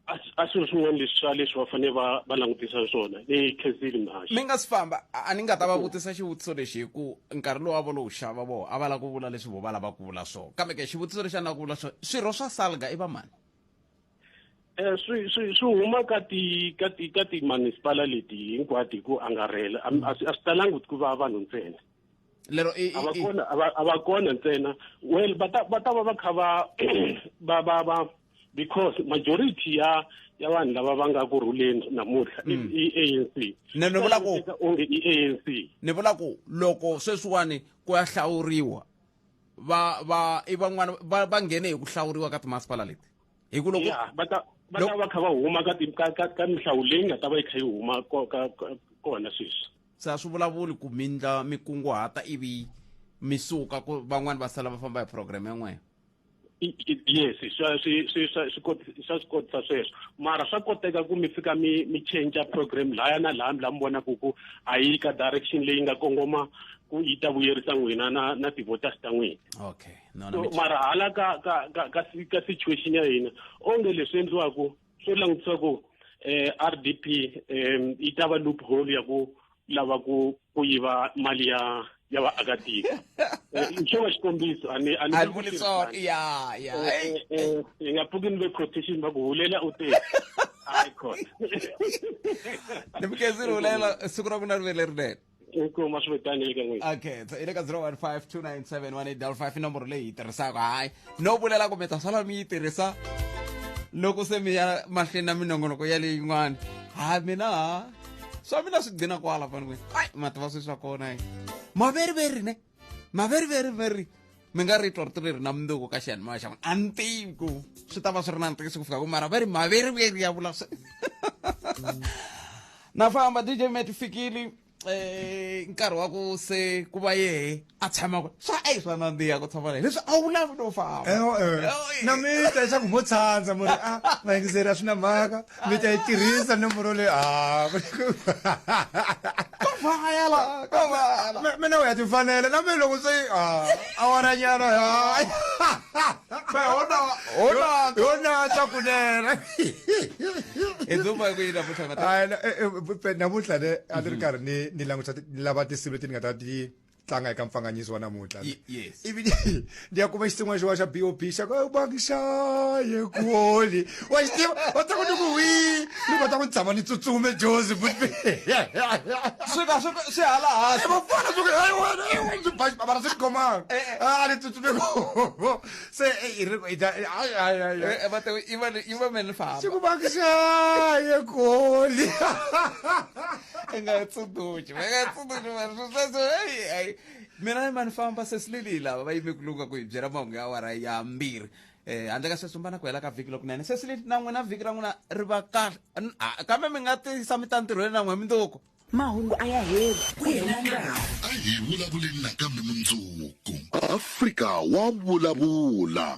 Speaker 17: a s- a swilo swin'wana leswi swa leswi va fanele va va langutisa swona leyi khensile mhaxi mi nga si famba a a
Speaker 1: ni nga ta va vutisa xivutiso lexi hi ku nkarhi lowu a vo lo wu xava voho a va lava ku vula leswi vo va lava ku vula swona kambe ke xivutiso lexi a ni lava ku vula swona swirho swa salga i vamani Eh, swi
Speaker 17: swi swi huma ka ti ka ti ka timunisipala leti hinkwato hi ku angarhela a a swi a swi talangi ku va vanhu ntsena lero i- a va i-
Speaker 1: i- kona a va-
Speaker 17: a va kona ntsena well va ta va ta va va kha va va va va because majority ya ya vanhu lava va nga ku rhuleni namuntlha i Mm. i anc Ne- ni vula ku-
Speaker 1: Swi onge i anc
Speaker 17: ni vula ku
Speaker 1: loko sweswiwani ku ya hlawuriwa va va i van'wana va va nghene hi ku hlawuriwa ka timasipala leti hi ku loko ya va ta va ta
Speaker 17: va kha va huma ka ti- ka ka ka mihlawu leyi nga ta va yi kha yi huma ko- ka- ka- kona sweswi se a swi vulavuli
Speaker 1: ku mi ndla mi kunguhata ivi mi suka ku van'wani va sala va famba hi program yin'weyo
Speaker 17: yes swa swi swi swa swi swa swi kotisa sweswo mara swa koteka ku mi fika mi mi change program laya na laya mi la mi vonaku ku a yi ka direction leyi nga kongoma ku yi ta vuyerisa n'wina na na ti-voters ta n'wina okay no, no, so
Speaker 1: mara hala
Speaker 17: ka ka ka ka, ka situation ya hina onge leswi endliwaku swo langutisa ku um eh, r d p um yi ta va loophole ya ku lava ku ku yiva mali ya ya vaakatiko eh, xo va xikombiso ani ani vuli
Speaker 1: swona ya ya
Speaker 17: hi nga pfuki ni ve quotation va ku hulela u te hayi khona
Speaker 1: ni mukezini hulela siku ra ku na rivele rinene
Speaker 17: kuma swi vitani le ka n'wina
Speaker 1: okay so i le ka 0152971855 i nomboro leyi yi tirhisaka hayi no vulela kumbe ta sala mi yi tirhisa loko se mi ya mahlweni na minongonoko ya leyin'wana ha mina ha swa mina swi gcina kwala fanele ai mativa swi swa kona hi maveriveri ne ma very very very mi nga ri twa rito leri na mundzuku ka xiyanimoya xa n'wina a ni tivi ku swi ta va swi ri na ntiyiso ku fika ku mara va ri maveriveri ya vula na famba dj met fikile eh nkarhi wa ku se ku va yehe a tshama ku swa a yi swa nandziha ku tshama leyi leswi a wu lavi no famba na mi
Speaker 18: ta leswaku mo tshandza mo ri a vayingiseri a swi na mhaka mi ta yi tirhisa nomboro leyi ah, mina u ya tifanela na mina loko se ah, awaranyana yonata kunene namuntlha ne a ni ri karhi ni langutisa lava tinsimu leti ni nga ta ti tlanga eka mpfanganyiso wa namuntlha Ye- yes. ivi ni- ni ya kuma xitsin'wana xin'wana xa bob xa ku bangishaye kuoli wa xi tiva va ta ku ni ku wi ni va ta ku ni tshama ni tsutsume jozi swi ka
Speaker 1: swi swi hala hansi vafana swi hayi wena hayi wena swi ba
Speaker 18: bara swi tikhomanga a ni tsutsume ko se eh, i ri i ta- hayi hayi hayi hayi.
Speaker 1: Eh, va te iva iva meni famba xi ku bangishaye
Speaker 18: kuoli
Speaker 1: nga ha tsundzuxi va nga ha tsundzuxi vanhu swo sweswo heyi hayi mina ni ma ni famba sesileli lava va yime ku lunga ku hi byela mahungu ya awara ya mbirhi um handle ka sweswo mba na ku hela ka vhiki lokunene sesileli na n'wina vhiki ra n'wina ri va kahle N- a- kambe mi nga tisa mi ta ntirhweni na n'we mindzuku mahungu a ya
Speaker 2: heli ku hela nkarhi a hi vulavuleni
Speaker 3: nakambe mundzuku afrika wa vulavula